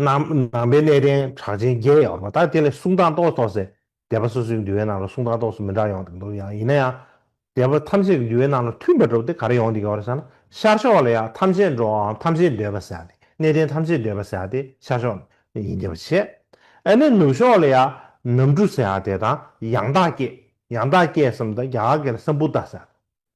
ནང་པའི་གནས་བརྟན་གྲགས་ཅན་བརྒྱད་ཡོད་པ་དག་དེ་ལས་གསུང་དང་རྟོགས་རྟོགས་སེ་སྡེ་པ་སོ་སོའི་འདུལ་བའི་ནང་ལ་གསུང་དང་རྟོགས་སུ་མི་འདྲ་ཡོང་འདུག་ཡང་ཡིན་ན་ཡང། སྡེ་པ་ཐམས་ཅད་ཀྱི་འདུལ་བའི་ནང་ལ་མཐུན་པར་གྲུབ་སྟེ་ག་རེ་ཡོང་འདུག་ཡོད་ཟེར་ན་ཤར་ཕྱོགས་ལ་ཡང་ཐམས་ཅད་འགྲོ་བའམ་ཐམས་ཅད་འདོད་པ་ཟེར་ཏེ་གནས་བརྟན་ཐམས་ཅད་འདོད་པ་ཟེར་ཏེ་ཤར་ཕྱོགས་ལ་ཡིན་འདུལ་བ་བྱེད། ཨ་ནི་ནུབ་ཕྱོགས་ལ་ཡང་ནམ་གྲུ་ཟེར་དེ་དང་ཡང་དག་སྐྱེས་ཡང་དག་སྐྱེས་སམ་དང་རྒྱ་གར་གྱི་ལ་སམ་བུ་ཏཱ་ཟེར།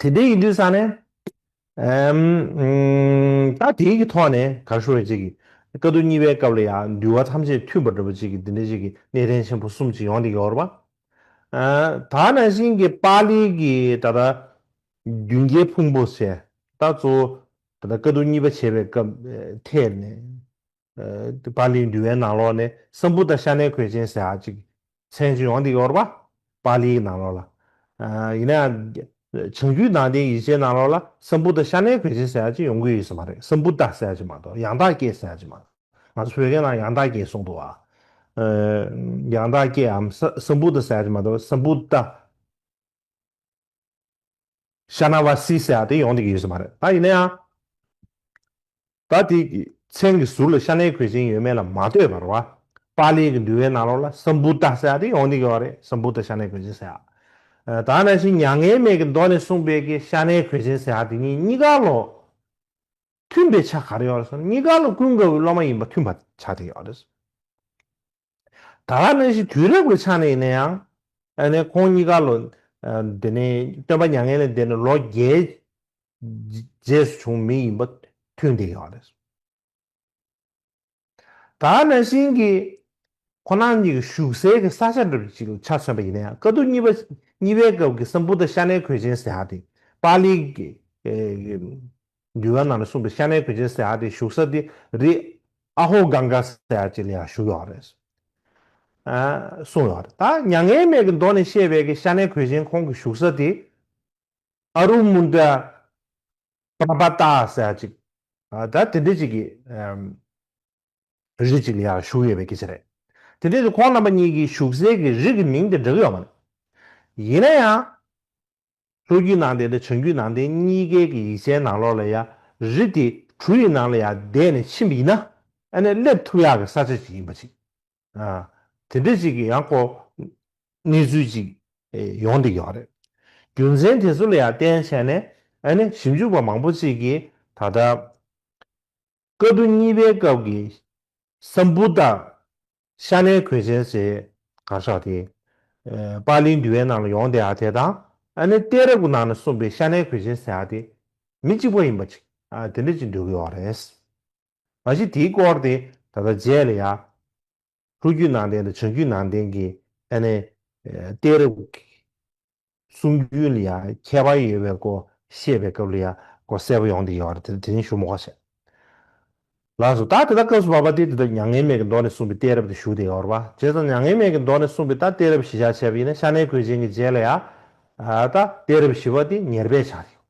དེ་ལྟའི་ཡིན་དུས་ས་ནས། ད་དེའི་གི་ཐོག་ནས་ག་ཤོ་རེ་ཅིག་གི། བཀའ་བསྡུ་གཉིས་པའི་སྐབས་ལ་ཡང་འདུལ་བ་ཐམས་ཅད་མཐུན་པར་འགྲུབ་པ་ཅིག་གི་འདི་འདྲ་ཅིག་གི་གནས་བརྟན་ཆེན་པོ་གསུམ་ཅིག་ཡོང་སྟེ་ཡོར་བ། ད་ན་བཞིན་གི་པཱ་ལིའི་གི་ད་ལྟ། མདུན་བསྐྱེད་ཕུང་པོ་བྱས། ད་གཙོ་བོ། ད་ལྟ་བཀའ་བསྡུ་གཉིས་པ་བྱེད་པའི་སྐབས་ཐད་ནས། པཱ་ལིའི་འདུལ་བའི་ནང་ལོགས་ནས་སྲམ་བུ་དང་ཤ་ནའི་གོས་ཅན་ཟེར་ཨ་ཅིག་མཚན་གཅིག་ཡོང་འདི་ཡོར་པ་པཱ་ལིའི་ནང་ལོགས་ལ། ཡིན་ན་ཡང་བྱང་རྒྱུད་ནང་བསྟན་ཡིག་ཆའི་ནང་ལོགས་ལ་སྲམ་བུ་དང་ཤ་ནའི་གོས་ཅན་ཟེར་ཨ་ཅིག་ཡོང་གི་ཡོད་ས་མ་རེད་སྲམ་བུ་ད་ཟེར་ཨ་ཅིག་མ་གཏོགས་ཡང་དག་སྐྱེས་ཟེར་ཨ་ཅིག་མ་གཏོགས་ང་ཚོ་བོད་སྐད་ནང་ཡང་དག་སྐྱེས་གསུངས་འདུག་ཨ། ཡང་དག་སྐྱེས་འམ་སྲམ་བུ་ད་ཟེར་ཨ་ཅིག་མ་གཏོགས་སྲམ་བུ་ད། ཤ་ན་བ་སི་ཟེར་བ་དེ་ཡོང་ཐུབ་ཀྱི་ཡོད་ས་མ་རེད་ད་ཡིན་ན་ཡང། ད་དེའི་མཚན་གྱི་ཟུར་ལ་ཤ་ནའི་གོས་ཆེན་ཡོད་མེད་ལ་མ་ལྟོས་པར་བ་པཱ་ལི་གི་འདུལ་བའི་ནང་ལོགས་ལ་སམ་བུ་ཏཱ་ཟེར་བ་དེ་ཡོང་ཐུབ་ཀྱི་བ་རེད་སམ་བུ་ཏཱ་ཤ་ནའི་གོས་ཆེན་ཟེར་བ། ད་ནང་བཞིན་མྱ་ངན་མེད་ཀྱི་མདོ་ནས་གསུངས་པའི་ཀྱི་ཤ་ནའི་གོས་ཆེན་ཟེར་བ་དེ་གཉིས་གཉིས་ཀ་ལོགས་མཐུན་པའི་ཆ་ག་རེ་ཡོད་རེད་སོང་ན་གཉིས་ཀ་ལོགས་ཀུན་དགའ་བོའི་སློབ་མ་ཡིན་པ་མཐུན་པ་ཆ་དེ་ཡོད་རེད། ད་ལྟ་ནི་ཞིག་དུས་རབས་ཀྱི་ཆ་ནས་ཡིན་ན་ཡང། ཨ་ནེ་ཁོང་གཉིས་ཀ་ལོ། དེ་ནི་སྟོན་པ་མྱ་ངན་ལས་འདས་ནས་ལོ་བརྒྱའི། རྗེས་སུ་བྱུང་མི་ཡིན་པ་མཐུན་བསྡད་ཡོད་རེད། ད་ཨ་ནེ་ཤིན་གྱིས། ཁོ་རང་གཉིས་ཀྱི་བཞུགས་སའི་གི་ས་ཆ་འདྲ་བ་ཞིག་ལ་ཆ་མཚོན་པ་ཡིན་ན་ཡང་དཀའ་སྡུག་གཉིས་པ། གཉིས་པའི་སྐབས་ཀྱི་སམ་བུ་ད་ཤ་ནའི་གོས་ཆེན་ཟེར་ཡག་དེ། པཱ་ལིའི། འདུལ་བ་རྣམས་ལས་གསུངས་པའི་ཤ་ནའི་གོས་ཅན་བསེ་ཨ་དེ་བཞུགས་ས་དེ་རི་ཨ་ཧོ་གངྒ་བསེ་ཨ་ཅེ་ལ་ཡང་བཞུགས་ཡོད་རེད། གསུངས་ཡོད་རེད། ད་མྱ་ངན་མེད་ཀྱི་མདོ་ནས་བཤད་པའི་གི་ཤ་ནའི་གོས་ཅན་ཁོང་གི་བཞུགས་ས་དེ་ཨ་རུ་མུན་ཏྲ་པར་བ་ཏཱ་བསེ་ཨ་ཅིག་ད་དེ་འདྲས་ཅིག་གི་རི་ཅིག་ལ་ཡང་བཞུགས་ཡོད་པའི་གི་ཆ་རེད། དེ་འདྲས་ཀྱི་ཁོང་རྣམ་པ་གཉིས་ཀྱི་བཞུགས་སའི་གི་རི་གི་མིང་དེ་འབྲི་གི་ཡོད་མ་རེད། ཡིན་ན་ཡང། ལྷོ་རྒྱུད་ནང་བསྟན་དང་བྱང་རྒྱུད་ནང་བསྟན་གཉིས་ཀའི་གི་ཡིག་ཆའི་ནང་ལོགས་ལ་ཡ་རི་དེ་གྲུ་ཡི་ནང་ལ་ཡ་བསྡད་ནས་ཕྱིན་པ་ཡིན་ན་ཨ་ནས་སླེབས་ཐུབ་ཡག་གི་ས་ཆ་ཅིག་ཡིན་པ་ཅིག་ཨ་དེ་འདྲ་ཅིག་གི་ཡང་ཀོ་གནས་ཚུལ་ཅིག་ཡོང་འདི་ཡོག་རེད་རྒྱུ་མཚན་དེ་ཚོ་ལ་ཡ་བསྟན་བྱས་ནས་ཨ་ནས་ཞིབ་འཇུག་པ་མང་པོ་ཅིག་གིས་ད་ལྟ། བཀའ་བསྡུ་གཉིས་པའི་སྐབས་ཀྱི་སམ་བུ་ཏཱ་ཤ་ནའི་གོས་ཆེན་ཞེས་གར་ཤག་དེ་པཱ་ལིའི་འདུལ་བའི་ནང་ལ་ཡོང་སྟེ་དེ་དང་ཨ་ནེ་གཏད་རབས་ཀྱི་ནང་ནས་གསུངས་པའི་ཤ་ནའི་གོས་ཆེན་ཟེར་བ་དེ་མི་གཅིག་པ་ཡིན་པ་ཅིག་དེ་འདྲ་ཅིག་འདོད་ཀྱི་ཡོད་རེད། མ་གཞི་དེའི་སྐོར་དེ་ད་ལྟ་རྗེས་ལ་ཡང། ཕྲུ་གུའི་ནང་བསྟན་དང་བྱང་རྒྱུད་ནང་བསྟན་གྱི་ཐད་ནས་གཏད་རབས་ཀྱི་གསུང་རྒྱུན་ལ་ཡང་ཁྱད་པར་ཡོད་པའི་སྐོར་བཤད་པའི་སྐབས་ལ་ཡང་སྐོར་གསལ་པོ་ཡོང་དེ་ཡོད་རེད་དེ་རིང་ཞུ་མོ་ཁ་ཤས་ལགས་སོ་ད་དེ་དག་སྐབས་སུ་མ་པ་སྟེ་དེ་དག་མྱ་ངན་མེད་ཀྱི་མདོ་ནས་གསུངས་པའི་གཏད་རབས་དེ་ཞུ་དེ་ཡོད་རེད་བྱས་ཙང་མྱ་ངན་མེད་ཀྱི་མདོ་ནས་གསུངས་པའི་ད་གཏད་རབས་ཞི་བྱ་བྱས་པ་ཡིན་ན་ཤ་གནད་གོས་ཅན་གྱི་རྗེས་ལ་ཡང་ད་གཏད་རབས་ཞི་བ་དེ་ཉེར་སྦས་ཆགས་ཀྱི་ཡོད།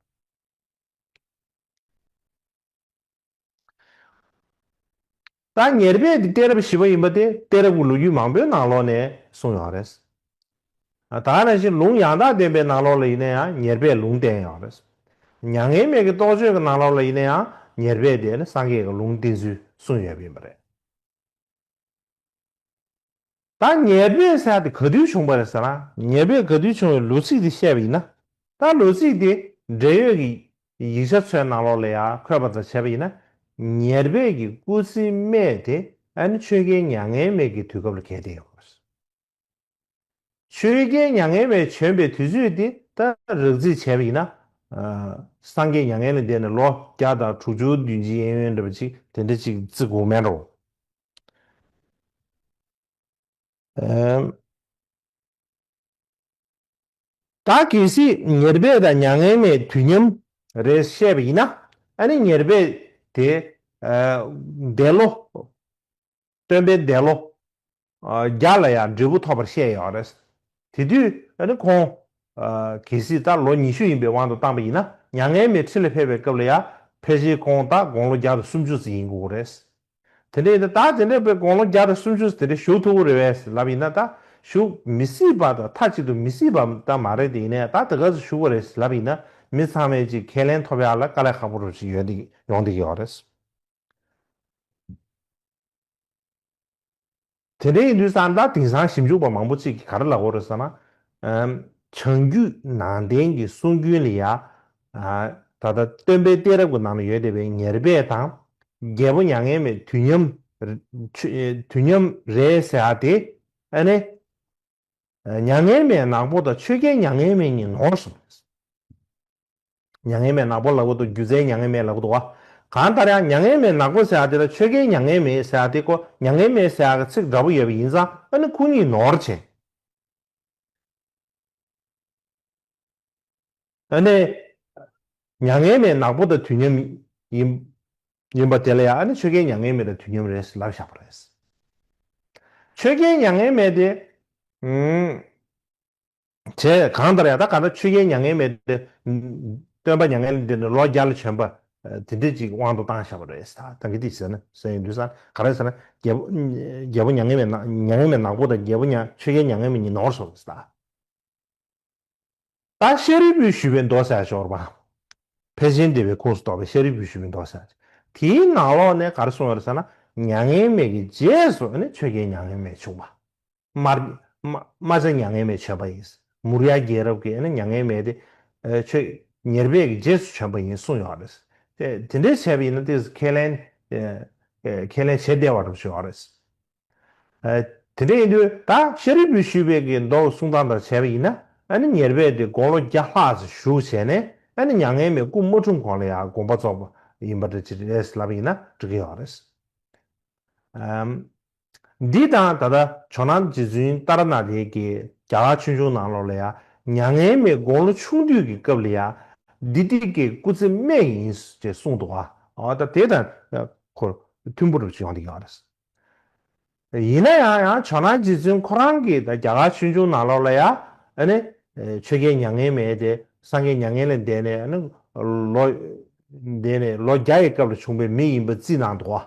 ད་ཉེར་པའི་གཏད་རབས་བཞི་པ་ཡིན་པ་དེ་གཏད་རབས་ཀྱི་ལོ་རྒྱུས་མང་པོའི་ནང་ལོགས་ནས་གསུངས་ཡོང་བ་རེད། ད་ནང་བཞིན་ལུང་ཡང་དག་བདེན་པའི་ནང་ལོགས་ལ་ཡིན་ན་ཡང་ཉེར་པས་ལུང་བསྟན་ཡོང་བ་རེད། མྱ་ངན་མེད་ཀྱི་རྟོགས་བརྗོད་ཀྱི་ནང་ལོགས་ལ་ཡིན་ན་ཡང་ཉེར་པས་དེ་ནི་སངས་རྒྱས་ཀྱི་ལུང་བསྟན་ཚུལ་གསུངས་ཡོད་པ་ཡིན་པ་རེད། ད་ཉེས་པའི་གསལ་ཏེ་ག་དུས་བྱུང་བ་རེད་ཟེར་ན། ཉེས་པའི་ག་དུས་བྱུང་བའི་ལོ་ཚིགས་དེ་བཤད་པ་ཡིན་ན། ད་ལོ་ཚིགས་དེ་འབྲེལ་ཡོད་ཀྱི་ཡིག་ཆ་ཚོའི་ནང་ལོགས་ལ་ཡང་འཁོད་པ་འདྲ་བྱས་པ་ཡིན་ན། ཉེར་བརྒྱད་ཀྱི་སྐུ་ཚེའི་སྨད་དེ་ཨ་ནེ་ཆོས་རྒྱལ་མྱ་ངན་མེད་ཀྱི་དུས་སྐབས་ལ་གལ་ཏེ་ཡོད་དགོས་པ་རེད། ཆོས་རྒྱལ་མྱ་ངན་མས་བྱོན་པའི་དུས་ཚོད་དེ་ལྟར་རགས་རྩིས་བྱས་པ་ཡིན་ན། སངས་རྒྱས་མྱ་ངན་ལས་འདས་ནས་ལོ་བརྒྱ་དང་དྲུག་ཅུ་བདུན་བརྒྱའི་ཡན་ཡོལ་འདྲ་བ་ཅིག་དེ་འདྲ་ཅིག་བརྩི་དགོས་མེད་རོ། ད་གལ་སྲིད་ཉེར་སྦས་དང་མྱ་ངན་མས་དུས་མཉམ་རེད་བཤད་པ་ཡིན་ན། ཨ་ནི་ཉེར་སྦས་དེ་འདས་ལོ་སྟོན་པས་འདས་ལོ། བརྒྱ་ལ་ཡང་འབྲས་བུ་ཐོབ་པར་བཤད་ཡོད་རེད། དེ་དུས་ནི་ཁོང། གལ་སྲིད་ད་ལོ་ཉི་ཤུ་ཡིན་པའི་དབང་དུ་བཏང་པ་ཡིན་ན་མྱ་ངན་མེད་ཁྲི་ལ་ཕེབས་པའི་སྐབས་ལ་ཡང་ཕལ་ཆེར་ཁོང་ད་དགོང་ལོ་བརྒྱ་དང་སུམ་ཅུ་ཙམ་ཡིན་དགོས་རེད། དེ་འདྲ་ཡིན་ན་ད་དེ་འདྲའི་བའི་དགོང་ལོ་བརྒྱ་དང་སུམ་ཅུ་དེ་འདྲའི་བཞུགས་ཐུབ་རེད་བས་ལབ་ཡིན་ན་ད་བཞུགས་མི་སྲིད་པ་དང་མཐའ་གཅིག་ཏུ་མི་སྲིད་པ་ད་མ་རེད་དེ་ཡིན་ན་ད་དེ་ག་ཚོད་བཞུགས་པ་རེད་ལབ་ཡིན་ན་མི་ཚང་མས་ཅིག་ཁས་ལེན་ཐོབ་ཡག་ལ་དཀའ་ལས་ཁག་པོ་རུ་ཅིག་ཡོད་འདུག་ཡོང་འདུག་ཡོད་རེད། དེ་འདྲའི་ཡིན་དུས་ས་མཐའ་དེང་སང་ཞིབ་འཇུག་པ་མང་པོ་ཅིག་གིས་ག་རེ་ལབ་འོ་རེད་ཟེར་ན། བྱང་རྒྱུད་ནང་བསྟན་གྱི་གསུང་རྒྱུན་ལ་ཡང། ད་ལྟ་སྟོན་པའི་གཏད་རབས་ཀྱི་ནང་ན་ཡོད་བསྡད་པའི་ཉེར་སྦས་དང། རྒྱལ་པོ་མྱ་ངན་མེད་དུས་མཉམ། དུས་མཉམ་རེད་ཟེར་ཡ་དེ། ཨ་ནི། མྱ་ངན་མེད་ནག་པོ་དང་ཆོས་རྒྱལ་མྱ་ངན་མེད་གཉིས་ནོར་སོང་རེད། མྱ་ངན་མེད་ནག་པོ་ལ་གོ་དུ་རྒྱུ་རྫས་མྱ་ངན་མེད་ལ་གོ་དུ་བ། གང་ལྟར་ཡང་མྱ་ངན་མེད་ནག་པོ་ཟེར་བ་དེ་ལ་ཆོས་རྒྱལ་མྱ་ངན་མེད་ཟེར་བ་དེ་ཀོ་མྱ་ངན་མེད་ཟེར་བ་གི་ཚིག་འདྲ་པོ་ཡོད་པ་ཡིན་ཙང་ཨ་ནི་སྐུ་ཉིད་ནོར་བྱས། ཨ་ནི། མྱ་ངན་མེད་ནག་པོ་དང་དུས་མཉམ་ཡིན། ཡིན་པ་དེ་ལ་ཡང་ཨ་ནི་ཆོས་རྒྱལ་མྱ་ངན་མེད་དང་དུས་མཉམ་རེད་ཟེར་ལབ་བཞག་པ་རེད། ཆོས་རྒྱལ་མྱ་ངན་མེད་དེ། བྱས། གང་ལྟར་ཡང་ད་ག་ན་ཆོས་རྒྱལ་མྱ་ངན་མེད་དེ། སྟོན་པ་མྱ་ངན་འདས་ནས་ལོ་བརྒྱ་ལ་བྱོན་པ། དེ་འདྲས་ཅིག་དབང་དུ་བཏང་བཞག་པ་རེད། ད་གི་དེ་ཟེར་ན་ཟེར་ཡོང་དུས་ས་ན་ག་རེ་ཟེར་ན། རྒྱལ་པོ་རྒྱལ་པོ་མྱ་ངན་མེད་མྱ་ངན་མེད་ནག་པོ་དང་རྒྱལ་པོ་མྱ་ཆོས་རྒྱལ་མྱ་ངན་མེད་གཉིས་ནོར་སོང་རེད་ད། ད་ཤཱ་རིའི་བུས་ཞུས་པའི་མདོ་བསལ་སྦྱོར་བ། ཕལ་ཆེན་སྡེ་བའི་ཁུངས་སུ་གཏོགས་པའི་ཤཱ་རིའི་བུས་ཞུས་པའི་མདོ་བསལ། དེའི་ནང་ལོགས་ནས་ག་རེ་གསུངས་ཡོད་རེད་ཟེར་ན། མྱ་ངན་མེད་ཀྱི་རྗེས་སུ་ནི་ཆོས་རྒྱལ་མྱ་ངན་མེད་བྱུང་བ། རྨ་བྱ་མྱ་ངན་མེད་བྱས་པ་ཡིན། མུར་ཡ་རྒྱལ་རབས་ཀྱི་མྱ་ངན་མེད་དེ་ཆོས་ཉེར་སྦས་ཀྱི་རྗེས་སུ་བྱས་པ་ཡིན་གསུངས་ཡོད་རེད། དེ་འདྲའི་བྱས་པ་ཡིན་ན་དེས་ཁས་ལེན་ཁས་ལེན་བྱེད་བདེ་བ་རུ་བྱས་ཡོད་རེད། དེ་འདྲ་ཡིན་དུས་ད་ཤཱ་རིའི་བུས་ཞུས་པའི་གི་མདོ་གསུང་སྟངས་ལྟར་བྱས་པ་ཡིན་ན་ནི་ཉེར་སྦས་དེ་དགོངས་ལོ་བརྒྱ་ལྷག་ཅིག་བཞུགས་བྱས་ནས་ནི་མྱ་ངན་མེད་སྐུ་མ་འཁྲུངས་གོང་ལ་ཡང་དགོངས་པ་རྫོགས་པ་ཡིན་པ་འདྲ་ཅི་རེད་ལབ་ཡིན་ན་འགྲིག་གི་ཡོད་རེད། འདི་དང་ད་ལྟ་ཇོ་ནང་རྗེ་བཙུན་ཏཱ་ར་ནཱ་ཐའི་ཀྱི་རྒྱ་གར་ཆོས་འབྱུང་ནང་ལོགས་ལ་ཡང་མྱ་ངན་མེད་དགུང་ལོ་ཆུང་དུས་ཀྱི་སྐབས་ལ་ཡང་འདི་ཏིག་གི་སྐུ་ཚེ་སྨད་ཡིན་ཅེས་གསུངས་འདུག་ཨ། ད་དེ་དང་ཁོ་མཐུན་པོ་རུ་ཡོང་དེ་ཡོད་རེད། ཡིན་ན་ཡང་ཡང་ཇོ་ནང་རྗེ་བཙུན་ཁོ་རང་གིས་ད་རྒྱ་གར་ཆོས་འབྱུང་ནང་ལོགས་ལ་ཡང་ཆོས་རྒྱལ་མྱ་ངན་མེད་དེ་སངས་རྒྱས་མྱ་ངན་ལས་འདས་ནས་ལོ་འདས་ནས་ལོ་བརྒྱ་ཡི་སྐབས་ལ་བྱུང་པའི་མི་ཡིན་པ་རྩིས་གནང་འདུག་ཨ།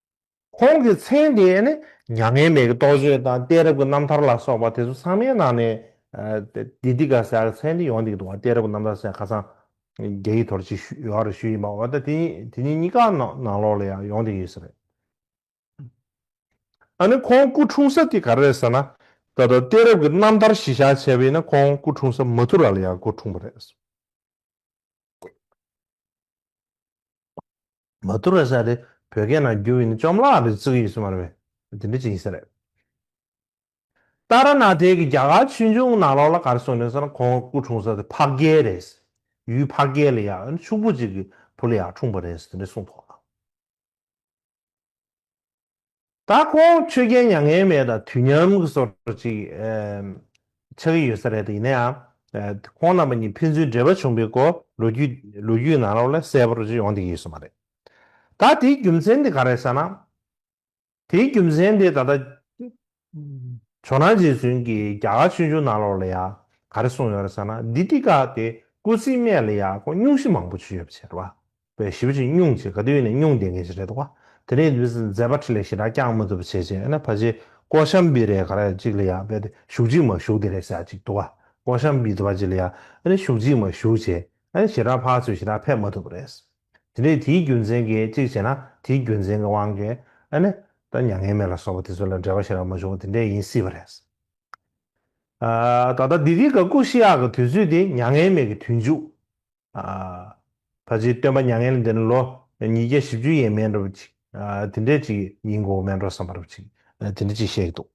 ཁོང་གི་མཚན་དེ་ནི་མྱ་ངན་མེད་ཀྱི་རྟོགས་བརྗོད་དང་གཏད་རབས་ཀྱི་རྣམ་ཐར་ལ་སོགས་པ་དེ་ཚོ་ཚང་མའི་ནང་ནས་དེ་འདི་ག་ཟེར་ཡག་མཚན་དེ་ཡོང་འདུག་འདུག་བ་གཏད་རབས་ཀྱི་རྣམ་ཐར་ཟེར་ཡག་ཁ་སང་རྒྱ་ཡིག་ཐོར་ཅིག་ཞུ་ཡོག་རེ་ཞུ་ཡིན་པ་འོ་ད་དེ་གཉིས་དེ་གཉིས་གཉིས་ཀ་ནང་ལོགས་ལ་ཡང་ཡོང་འདུག་ཡོད་ས་རེད། ཨ་ནི་ཁོང་སྐུ་འཁྲུངས་ས་དེ་ག་རེ་རེད་ཟེར་ན་ད་ལྟ་གཏད་རབས་ཀྱི་རྣམ་ཐར་གཞི་བཞག་བྱས་པ་ཡིན་ན་ཁོང་སྐུ་འཁྲུངས་ས་མ་ཐུ་ར་ལ་ཡང་སྐུ་འཁྲུངས་པ་རེད། མ་ཏུ་ར་ཤ་དེ་བོད་སྐད་ནང་བསྒྱུར་བས་ནི་བཅོམ་བརླག་པའི་ཚིག་ཡིན་ཟེར་མ་རེད་པས་དེ་འདྲ་ཅིག་ཡིན་ས་རེད། ཏཱ་ར་ནཱ་ཐའི་གི་རྒྱ་གར་ཆོས་འབྱུང་ནང་ལོགས་ལ་ག་རེ་གསུངས་ཡོད་ན་ཟེར་ན་ཁོང་སྐུ་འཁྲུངས་ས་དེ་ཕག་རྒྱལ་རེད། ཡུལ་ཕག་རྒྱལ་ལ་ཡང་ཡང་ཕྱུག་པོ་ཅིག་གི་བུ་ལ་ཡང་འཁྲུངས་པ་རེད་དེ་འདྲ་གསུངས་ཐོག་ལ། ད་ཁོང་ཆོས་རྒྱལ་མྱ་ངན་མེད་དང་དུས་མཉམ་གྱི་སོར་ཅིག་ཆགས་ཀྱི་ཡོད་ས་རེད་དེ་ཡིན་ན་ཡང་ཁོང་རྣམ་པ་གཉིས་ཕན་ཚུན་འབྲེལ་བ་བྱུང་པའི་སྐོར་ལོ་རྒྱུས་ནང་ལོགས་ལ་གསལ་པོར་ཅིག་ཡོང་ཐེ་གི་ཡོད་ས་མ་རེད། ད་དེའི་རྒྱུ་མཚན་དེ་ག་རེད་ས་ན། དེའི་རྒྱུ་མཚན་དེ་ད་ལྟ་ཇོ་ནང་རྗེ་བཙུན་གྱིས་རྒྱ་གར་ཆོས་འབྱུང་ནང་ལོགས་ལ་ཡང་ག་རེ་གསུངས་ཡོད་རེད་ས་ན་འདི་ཏི་ཀ་གི་སྐུ་ཚེའི་སྨད་ལ་ཡང་ཁོང་སྙུང་གཞི་མང་པོ་བྱུས་ཡོད་པ་ཕྱིར་རོ། པའི་ཞིབ་ཅིང་བསྙུངས་བྱེད་དགའ་དུས་ནས་བསྙུངས་བསྡད་མཁན་ཞིག་རེད་བ། དེ་ནས་དུས་སུ་མཛད་པ་ཁྲི་ལས་ཞེ་དྲག་བསྐྱངས་མ་ཐུབ་པ་བྱས་བྱས་ཡོད་ན་ཕ་ཆེ་ཀོ་ཤམ་པི་རེད་ག་རེད་ཅིག་ལ་ཡང་བལྟས་ཏེ་ཞུགས་ཅིག་མ་ཞུགས་དེ་རེད་བྱ་ཅིག་དུ་བ་ཀོ་ཤམ་པི་དུ་བ་ཅིག་ལ་ཡང་ཞུགས་ཅིག་མ་ཞུགས་བྱས་ཨ་ཞེ་དྲག་ཕག་ཚོས་ཞེ་དྲག་ཕེབས་མ་ཐུབ་པ་རེད། དེ་འདྲས་དེའི་རྒྱུ་མཚན་གྱིས་ཅིག་བྱས་ན་དེའི་རྒྱུ་མཚན་གྱི་དབང་གིས་ཨ་ནི་ད་མྱ་ངན་མེད་ལ་སོགས་པ་དེ་ཚོ་ལ་འབྲེལ་བ་ཞེ་དྲག་མ་བྱུང་བ་དེ་འདྲས་ཡིན་སྲིད་པ་རེད། ད་ལྟ་འདི་དུས་ཀ་ཀུ་ཤི་ཡག་གི་དུས་ཚོད་དེ་མྱ་ངན་མེད་ཀྱི་དུས་མཇུག་ད་ལྕིའི་སྟོན་པ་མྱ་ངན་ལས་འདས་ནས་ལོ་ཉིས་བརྒྱ་བཞི་བཅུ་ཡས་མས་འགྲོ་བ་ཅིག་དེ་འདྲས་ཅིག་ཡིན་དགོས་མེད་འགྲོ་བསམ་པ་རབ་ཅིག་དེ་འདྲས་ཅིག་བཤད་ཀྱི་འདུག།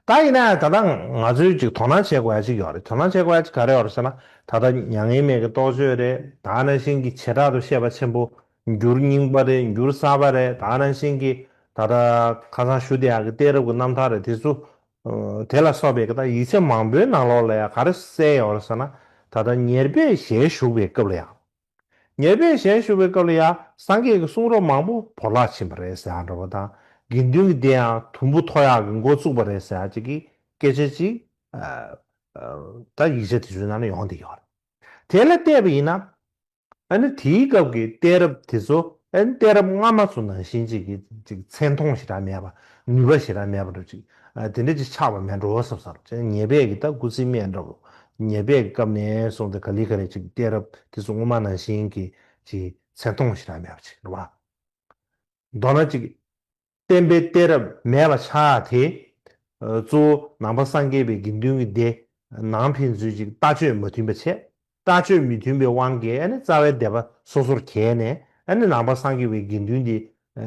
ད་ཡིན་ནའང་ད་ལྟ་ང་ཚོས་ཅིག་དོ་སྣང་བྱེད་དགོས་ཡ་ཅིག་ཡོད་རེད་དོ་སྣང་བྱེད་དགོས་ཡ་ཅིག་ག་རེད་ཡོད་རེད་ཟེར་ན་ད་ལྟ་མྱ་ངན་མེད་ཀྱི་རྟོགས་བརྗོད་རེད་ད་ནང་བཞིན་གྱི་བྱེ་བྲག་ཏུ་ཤེས་པ་ཆེན་པོ་འགྱུར་རྙིང་པ་རེད་འགྱུར་གསར་པ་རེད་ད་ནང་བཞིན་གྱི་ད་ལྟ་ཁ་སང་ཞུ་བདེ་ཡག་གི་གཏད་རབས་ཀྱི་རྣམ་ཐར་རེད་དེ་ཚོ་དེ་ལ་སོགས་པའི་ཡིག་ཚད་མང་པོའི་ནང་ལོགས་ལ་ཡང་ག་རེ་གསལ་ཡོད་རེད་ཟེར་ན་ད་ལྟ་ཉེར་སྦས་ཞལ་བཞུགས་པའི་སྐབས་ལ་ཡང། ཉེར་སྦས་ཞལ་བཞུགས་པའི་སྐབས་ལ་ཡང་སངས་རྒྱས་ཀྱི་གསུང་རབ་མང་པོ་བོར་བརླག་ཕྱིན་པ་རེད་ཟེར་འདྲ་བ་དང་དགེ་འདུན་གྱི་སྡེ་ཡང་དུམ་བུ་མཐོ་ཡག་གི་མགོ་བཙུགས་པ་རེད་ཟེར་ཅིག་གི་སྐད་ཆ་ཅིག་ད་ཡིག་ཆ་དེ་ཚོའི་ནང་ལ་ཡོང་བསྡད་ཡོད་རེད། དེ་ལ་བལྟས་པ་ཡིན་ན། ཨ་ནི་དེའི་སྐབས་ཀྱི་གཏད་རབས་དེ་ཚོ། ཨ་ནི་གཏད་རབས་སྔ་མ་ཚོ་ནང་བཞིན་ཅིག་གི་ཅིག་མཚན་མཐོང་ཞེ་དྲག་མེད་པ་ནུས་པ་ཞེ་དྲག་མེད་པ་འགྲོ་ཅིག་དེ་འདྲ་ཅིག་ཆགས་པ་མེད་འགྲོ་ཟབ་ཟབ་ཅིག་ཉེས་པས་ཀྱི་ད་ཀུ་ཚིག་སྨྲས་འདྲ་བོ་ཉེས་པས་ཀྱི་སྐབས་ནས་བཟུང་སྟེ་ག་ལི་ག་རེ་ཅིག་གི་གཏད་རབས་དེ་ཚོ་སྔོན་མ་ནང་བཞིན་གྱི་ཅིག་མཚན་མཐོང་ཞེ་དྲག་མེད་པ་ཅིག་འགྲོ་བ་མདོར་ན་ཅིག་བསྟན་པའི་གཏད་རབས་མེད་པ་ཆགས་དེ། གཙོ་བོ་ནང་པ་སངས་རྒྱས་པའི་དགེ་འདུན་གྱི་སྡེ། ནང་ཕན་ཚུན་ཅིག་ལྟ་སྤྱོད་མ་མཐུན་པ་བྱས། ལྟ་སྤྱོད་མི་མཐུན་པའི་དབང་གིས་རྩ་བའི་སྡེ་པ་སོ་སོར་གྱེས་ནས་ནང་པ་སངས་རྒྱས་པའི་དགེ་འདུན་དེ།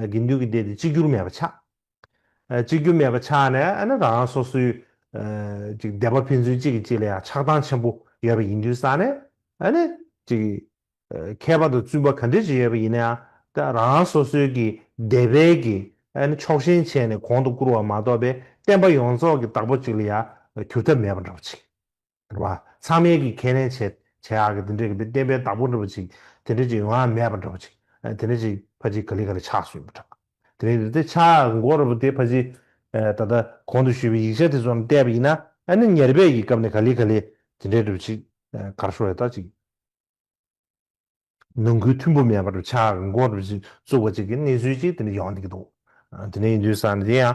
དགེ་འདུན་གྱི་སྡེ་དེ་གཅིག་གྱུར་མེད་པ་ཆགས། གཅིག་གྱུར་མེད་པ་ཆགས་ནས་རང་རང་སོ་སོའི། སྡེ་པ་ཕན་ཚུན་གཅིག་གིས་གཅིག་ལ་ཡང་ཆགས་སྡང་ཆེན་པོ་ཡོད་པ་ཡིན་དུས་སང་ནས། ཁྱད་པར་དུ་བཙུན་པ་ག་འདྲི་བྱེད་ཡོད་པ་ཡིན་ན་ཡང་རང་སོ་སོའི་གི་སྡེ་དཔལ་གི་ཕྱོགས་ཞེན་བྱས་ནས་གོང་དུ་བཀུར་བ་མ་གཏོགས་པའི་བསྟན་པ་ཡོངས་རྫོགས་གི་བདག་པོ་གཅིག་ལ་ཡང་གྱུར་ཐབས་མེད་པ་འདྲ་བ་ཅིག་རེད་བ། ཚང་མས་གི་ཁས་ལེན་བྱེད་བྱེད་ཨ་གི་དེ་འདྲའི་གི་བསྟན་པའི་བདག་པོ་འདྲ་བ་ཅིག་དེ་འདྲའི་ཅིག་ཡོང་ཨ་མེད་པ་འདྲ་བ་ཅིག་དེ་འདྲའི་ཅིག་ཕ་ཅིག་ག་ལི་ག་ལི་ཆགས་སུ་ཡོད་པ་འདྲ། དེ་རིང་འདི་ཆ་མགོ་ར་བུ་དེ་ཕ་ཅིག་ད་ལྟ་གོང་དུ་ཞུས་པའི་ཡིག་ཆ་དེ་ཚོ་རྣམས་བལྟས་པ་ཡིན་ན་ཨ་ནི་ཉེར་སྦས་གི་སྐབས་ནས་ག་ལི་ག་ལི་དེ་འདྲའི་འདྲ་བ་ཅིག་གར་ཤོར་ཡོད་ད་ཅིག་ནང་ཁུལ་མཐུན་པོ་མེད་པར་ཆ་འགོ་འགོ་རུ་བཙུགས་པ་ཅིག་གི་གནས་ཚུལ་ཅིག་དེ་འདྲ་ཡོང་སྡིགས་འདུག་དེ་འདྲ་ཡིན་དུས་ས་འདི་ཡང་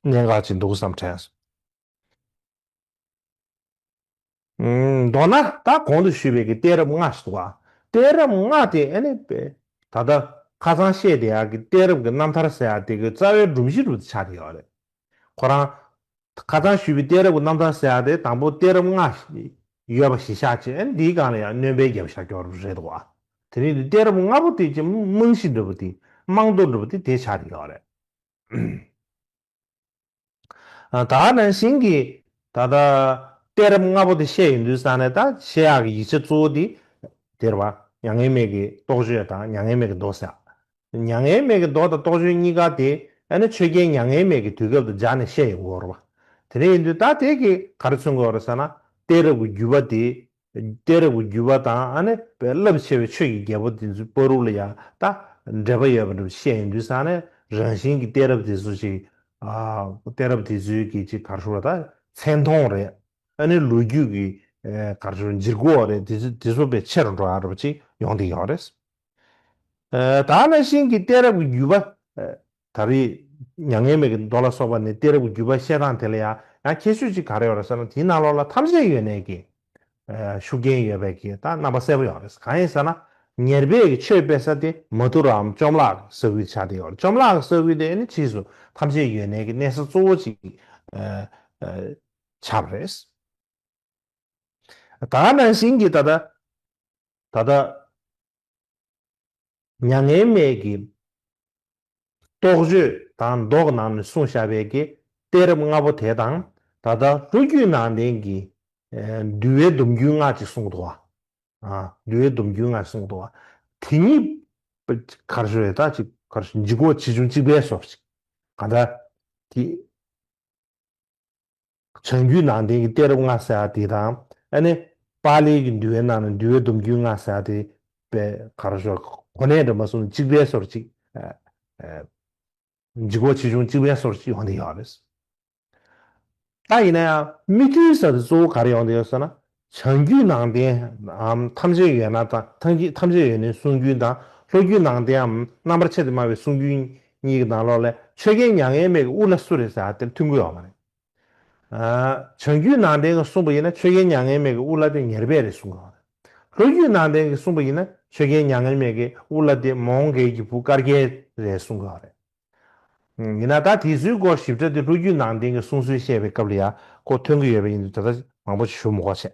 གནད་འགག་ཅིག་འདུག་བསམ་དྲན། མདོར་ན་ད་གོང་དུ་ཞུས་པའི་གི་གཏད་རབས་ལྔ་ཞིག་འདུག་གཏད་རབས་ལྔ་དེ་ཨེ་ནི་པེ་ད་ལྟ་ཁ་ཚང་བཤད་དེ་ཡག་གི་གཏད་རབས་ཀྱི་རྣམ་ཐར་ཟེར་ཡག་དེ་གི་རྩ་བའི་སྒྲོམ་གཞི་རུ་ཆགས་ཀྱི་ཡོད་རེད། ཁོ་རང། ཁ་རྩང་བཞུས་པའི་གཏད་རབས་ཀྱི་རྣམ་ཐར་གསལ་བ་དེ་དང་པོ་གཏད་རབས་ལྔ་ཡོད་པ་གཞི་བཞག་བྱས་ཨེ་འདིའི་སྒང་ལ་ཡང་གནོན་པའི་རྒྱབ་ཤ་སྐྱོར་རབས་རེད་འདུག་ཨ། དེ་རིང་འདི་གཏད་རབས་ལྔ་པོ་དེ་ཅི་རྨང་གཞི་འགྲུབ་པ་དེ་རྨང་རྡོ་འགྲུབ་པ་དེ་དེ་ཆ་དེ་ཡོད་རེད། ད་ནང་བཞིན་གྱི་ད་ལྟ་གཏད་རབས་ལྔ་པོ་དེ་བཤད་ཡོང་དུས་ས་ནས་ད་བཤད་ཡག་གི་ཡིག་ཆ་གཙོ་བོ་དེ་དེར་བ་མྱ་ངན་མེད་ཀྱི་རྟོགས་བརྗོད་དང་མྱ་ངན་མེད་ཀྱི་མདོ་བསྲེགས། མྱ་ངན་མེད་ཀྱི་མདོ་དང་རྟོགས་བརྗོད་གཉིས་ཀ་དེ་ཨེ་ན་ཆོས་རྒྱལ་མྱ་ངན་མེད་ཀྱི་དུས་སྐབས་དུ་སྦྱར་ནས་བཤད་ཡོང་གི་འོར་བ། དེ་འདྲ་ཡིན་དུས་ད་ལྟའི་གི་ག་རེ་མཚོན་གི་འོར་ཟེར་ན་གཏད་རབས་ཀྱི་བརྒྱུད་པ་དེ། གཏད་རབས་ཀྱི་བརྒྱུད་པ་དང་ཨ་ནི་བའི་རླབས་ཆེ་བའི་ཆོས་ཀྱི་རྒྱལ་པོ་དེ་ཚོའི་དཔའ་རུ་ལ་ཡང་ད་འབྲེལ་པ་ཡོད་པ་འདྲ་བ་བཤད་ཡོང་དུས་ཟེར་ན་རང་བཞིན་གྱི་གཏད་རབས་དེ་ཚོ་ཅིག་གཏད་རབས་དེ་ཚོའི་གི་ཅིག་གར་ཤོར་བ་ད་མཚན་མཐོང་རེད་ཨ་ནི་ལོ་རྒྱུས་ཀྱི་གར་ཤོར་འཇིག་གོ་རེད་དེ་ཚོ་དེ་ཚོ་བའི་ཆེ་རུ་འགྲོ་ཡག་འགྲོ་བ་ཅིག་ཡོང་དེ་ཡོང་རེད། དག་ན་ཤིང་གི་གཏད་རབས་ཀྱི་བརྒྱུད་པ། ད་རེས་མྱ་ངན་མེད་ཀྱི་མདོ་ལ་སོགས་པ་ནས་གཏད་རབས་ཀྱི་བརྒྱུད་པ་བཤད་སྟངས་དེ་ལ་ཡང་ཡང་ཁྱད་ཆོས་ཅིག་ག་རེ་ཡོད་རེད་ཟེར་ན་དེའི་ནང་ལོགས་ལ་ཐམས་ཅད་ཡོད་གནས་ཀྱི་ཤུགས་རྐྱེན་ཡོད་པས་ཀྱི་ད་རྣམ་པ་གསལ་པོ་ཡོང་རེད་གང་ཡིན་ཟེར་ན། ཉེར་སྦས་ཀྱི་ཆོས་སྤེལ་ས་དེ་མ་ཐུ་ར་འམ་བཅོམ་བརླག་གི་ས་ཁུལ་ཆགས་བསྡད་ཡོད་རེད་བཅོམ་བརླག་གི་ས་ཁུལ་དེ་ནི་ཕྱིས་སུ་ཐམས་ཅད་ཡོད་གནས་ཀྱི་གནས་ས་གཙོ་བོ་ཅིག་ཆགས་པ་རེད། ད་ནང་བཞིན་གྱི་ད་ལྟ། ད་ལྟ། མྱ་ངན་མེད་ཀྱི། རྟོག་དཔྱོད་དང་མདོག་ནང་ནས་གསུངས་བཞག་པའི་གཏད་རབས་ལྔ་པོ་དེ་དང་ད་ལྟ་ལྷོ་རྒྱུད་ནང་བསྟན་གྱི་འདུལ་བའི་སྡོམ་རྒྱུན་སྔགས་ཀྱི་གསུང་དུ་བ། འདུལ་བའི་སྡོམ་རྒྱུན་སྔགས་ཀྱི་གསུང་དུ་བ། དེ་གཉིས། གར་སོ་རེ་ད་ཅིག་གར་སོ་འཇིག་གོ་ཆེ་ཆུང་གཅིག་པའི་སོ་ཅིག་ག་འདྲ། དེ། བྱང་རྒྱུད་ནང་བསྟན་གྱི་གཏད་རབས་ལྔ་ཟེར་བ་དེ་དང། ཨ་ནེ། པཱ་ལིའི་གྱི་འདུལ་བའི་ནང་ནས་འདུལ་བའི་སྡོམ་རྒྱུད་ལྔ་ཟེར་བ་དེ། པའི་ག་རེ་ཞོར་གོ་གནས་འདྲ་མ་གསུམ་ལ་གཅིག་པའི་སོར་གཅིག། འཇིག་གོ་ཆེ་ཆུང་གཅིག་པའི་སོར་གཅིག་ཡོང་དེ་ཡོད་རེད། ད་ཡིན་ན་ཡང། མི་མཐུན་ས་དེ་གཙོ་བོ་ག་རེ་ཡོང་དེ་ཡོད་ཟེར་ན། བྱང་རྒྱུད་ནང་བསྟན་ཐམས་ཅད་ཡོད་ན་དང་ཐམས་ཅད་ཡོད་ནི་གསུང་རྒྱུན་དང་ལྷོ་རྒྱུད་ནང་བསྟནའམ་རྣམ་པར་ཆེ་སྟེ་དམའ་བའི་གསུང་རྒྱུན་གཉིས་ཀྱི་ནང་ལོགས་ལས་ཆོས་རྒྱལ་མྱ་ངན་མེད་ཀྱི་དབུ་ལ་སུ་རེད་ཟེར་བ་དེར་ཐུག་དགོས་བ་མ་རེད། བྱང་རྒྱུད་ནང་བསྟན་གྱི་གསུང་པ་ཡིན་ན་ཆོས་རྒྱལ་མྱ་ངན་མེད་ཀྱི་དབུ་ལ་དེ་ཉེར་སྦས་རེད་གསུང་དགོས་བ་རེད། ལྷོ་རྒྱུད་ནང་བསྟན་གྱི་གསུང་པ་ཡིན་ན་ཆོས་རྒྱལ་མྱ་ངན་མེད་ཀྱི་དབུ་ལ་དེ་མོང་གལ་གྱི་བུ་དཀར་རྒྱལ་རེད་གསུང་དགོས་བ་རེད། ཡིན་ན་ད་དེའི་ཚུལ་སྐོར་ཞིབ་ཕྲ་དེ་ལྷོ་རྒྱུད་ནང་བསྟན་གྱི་གསུང་སྲོལ་བཤད་པའི་སྐབས་ལ་ཡང་སྐོར་ཐོན་གྱི་ཡོད་པ་ཡིན་འདུག་ད་ལྟ་མང་པོ་ཞིབ་མོ་གོ་བྱས།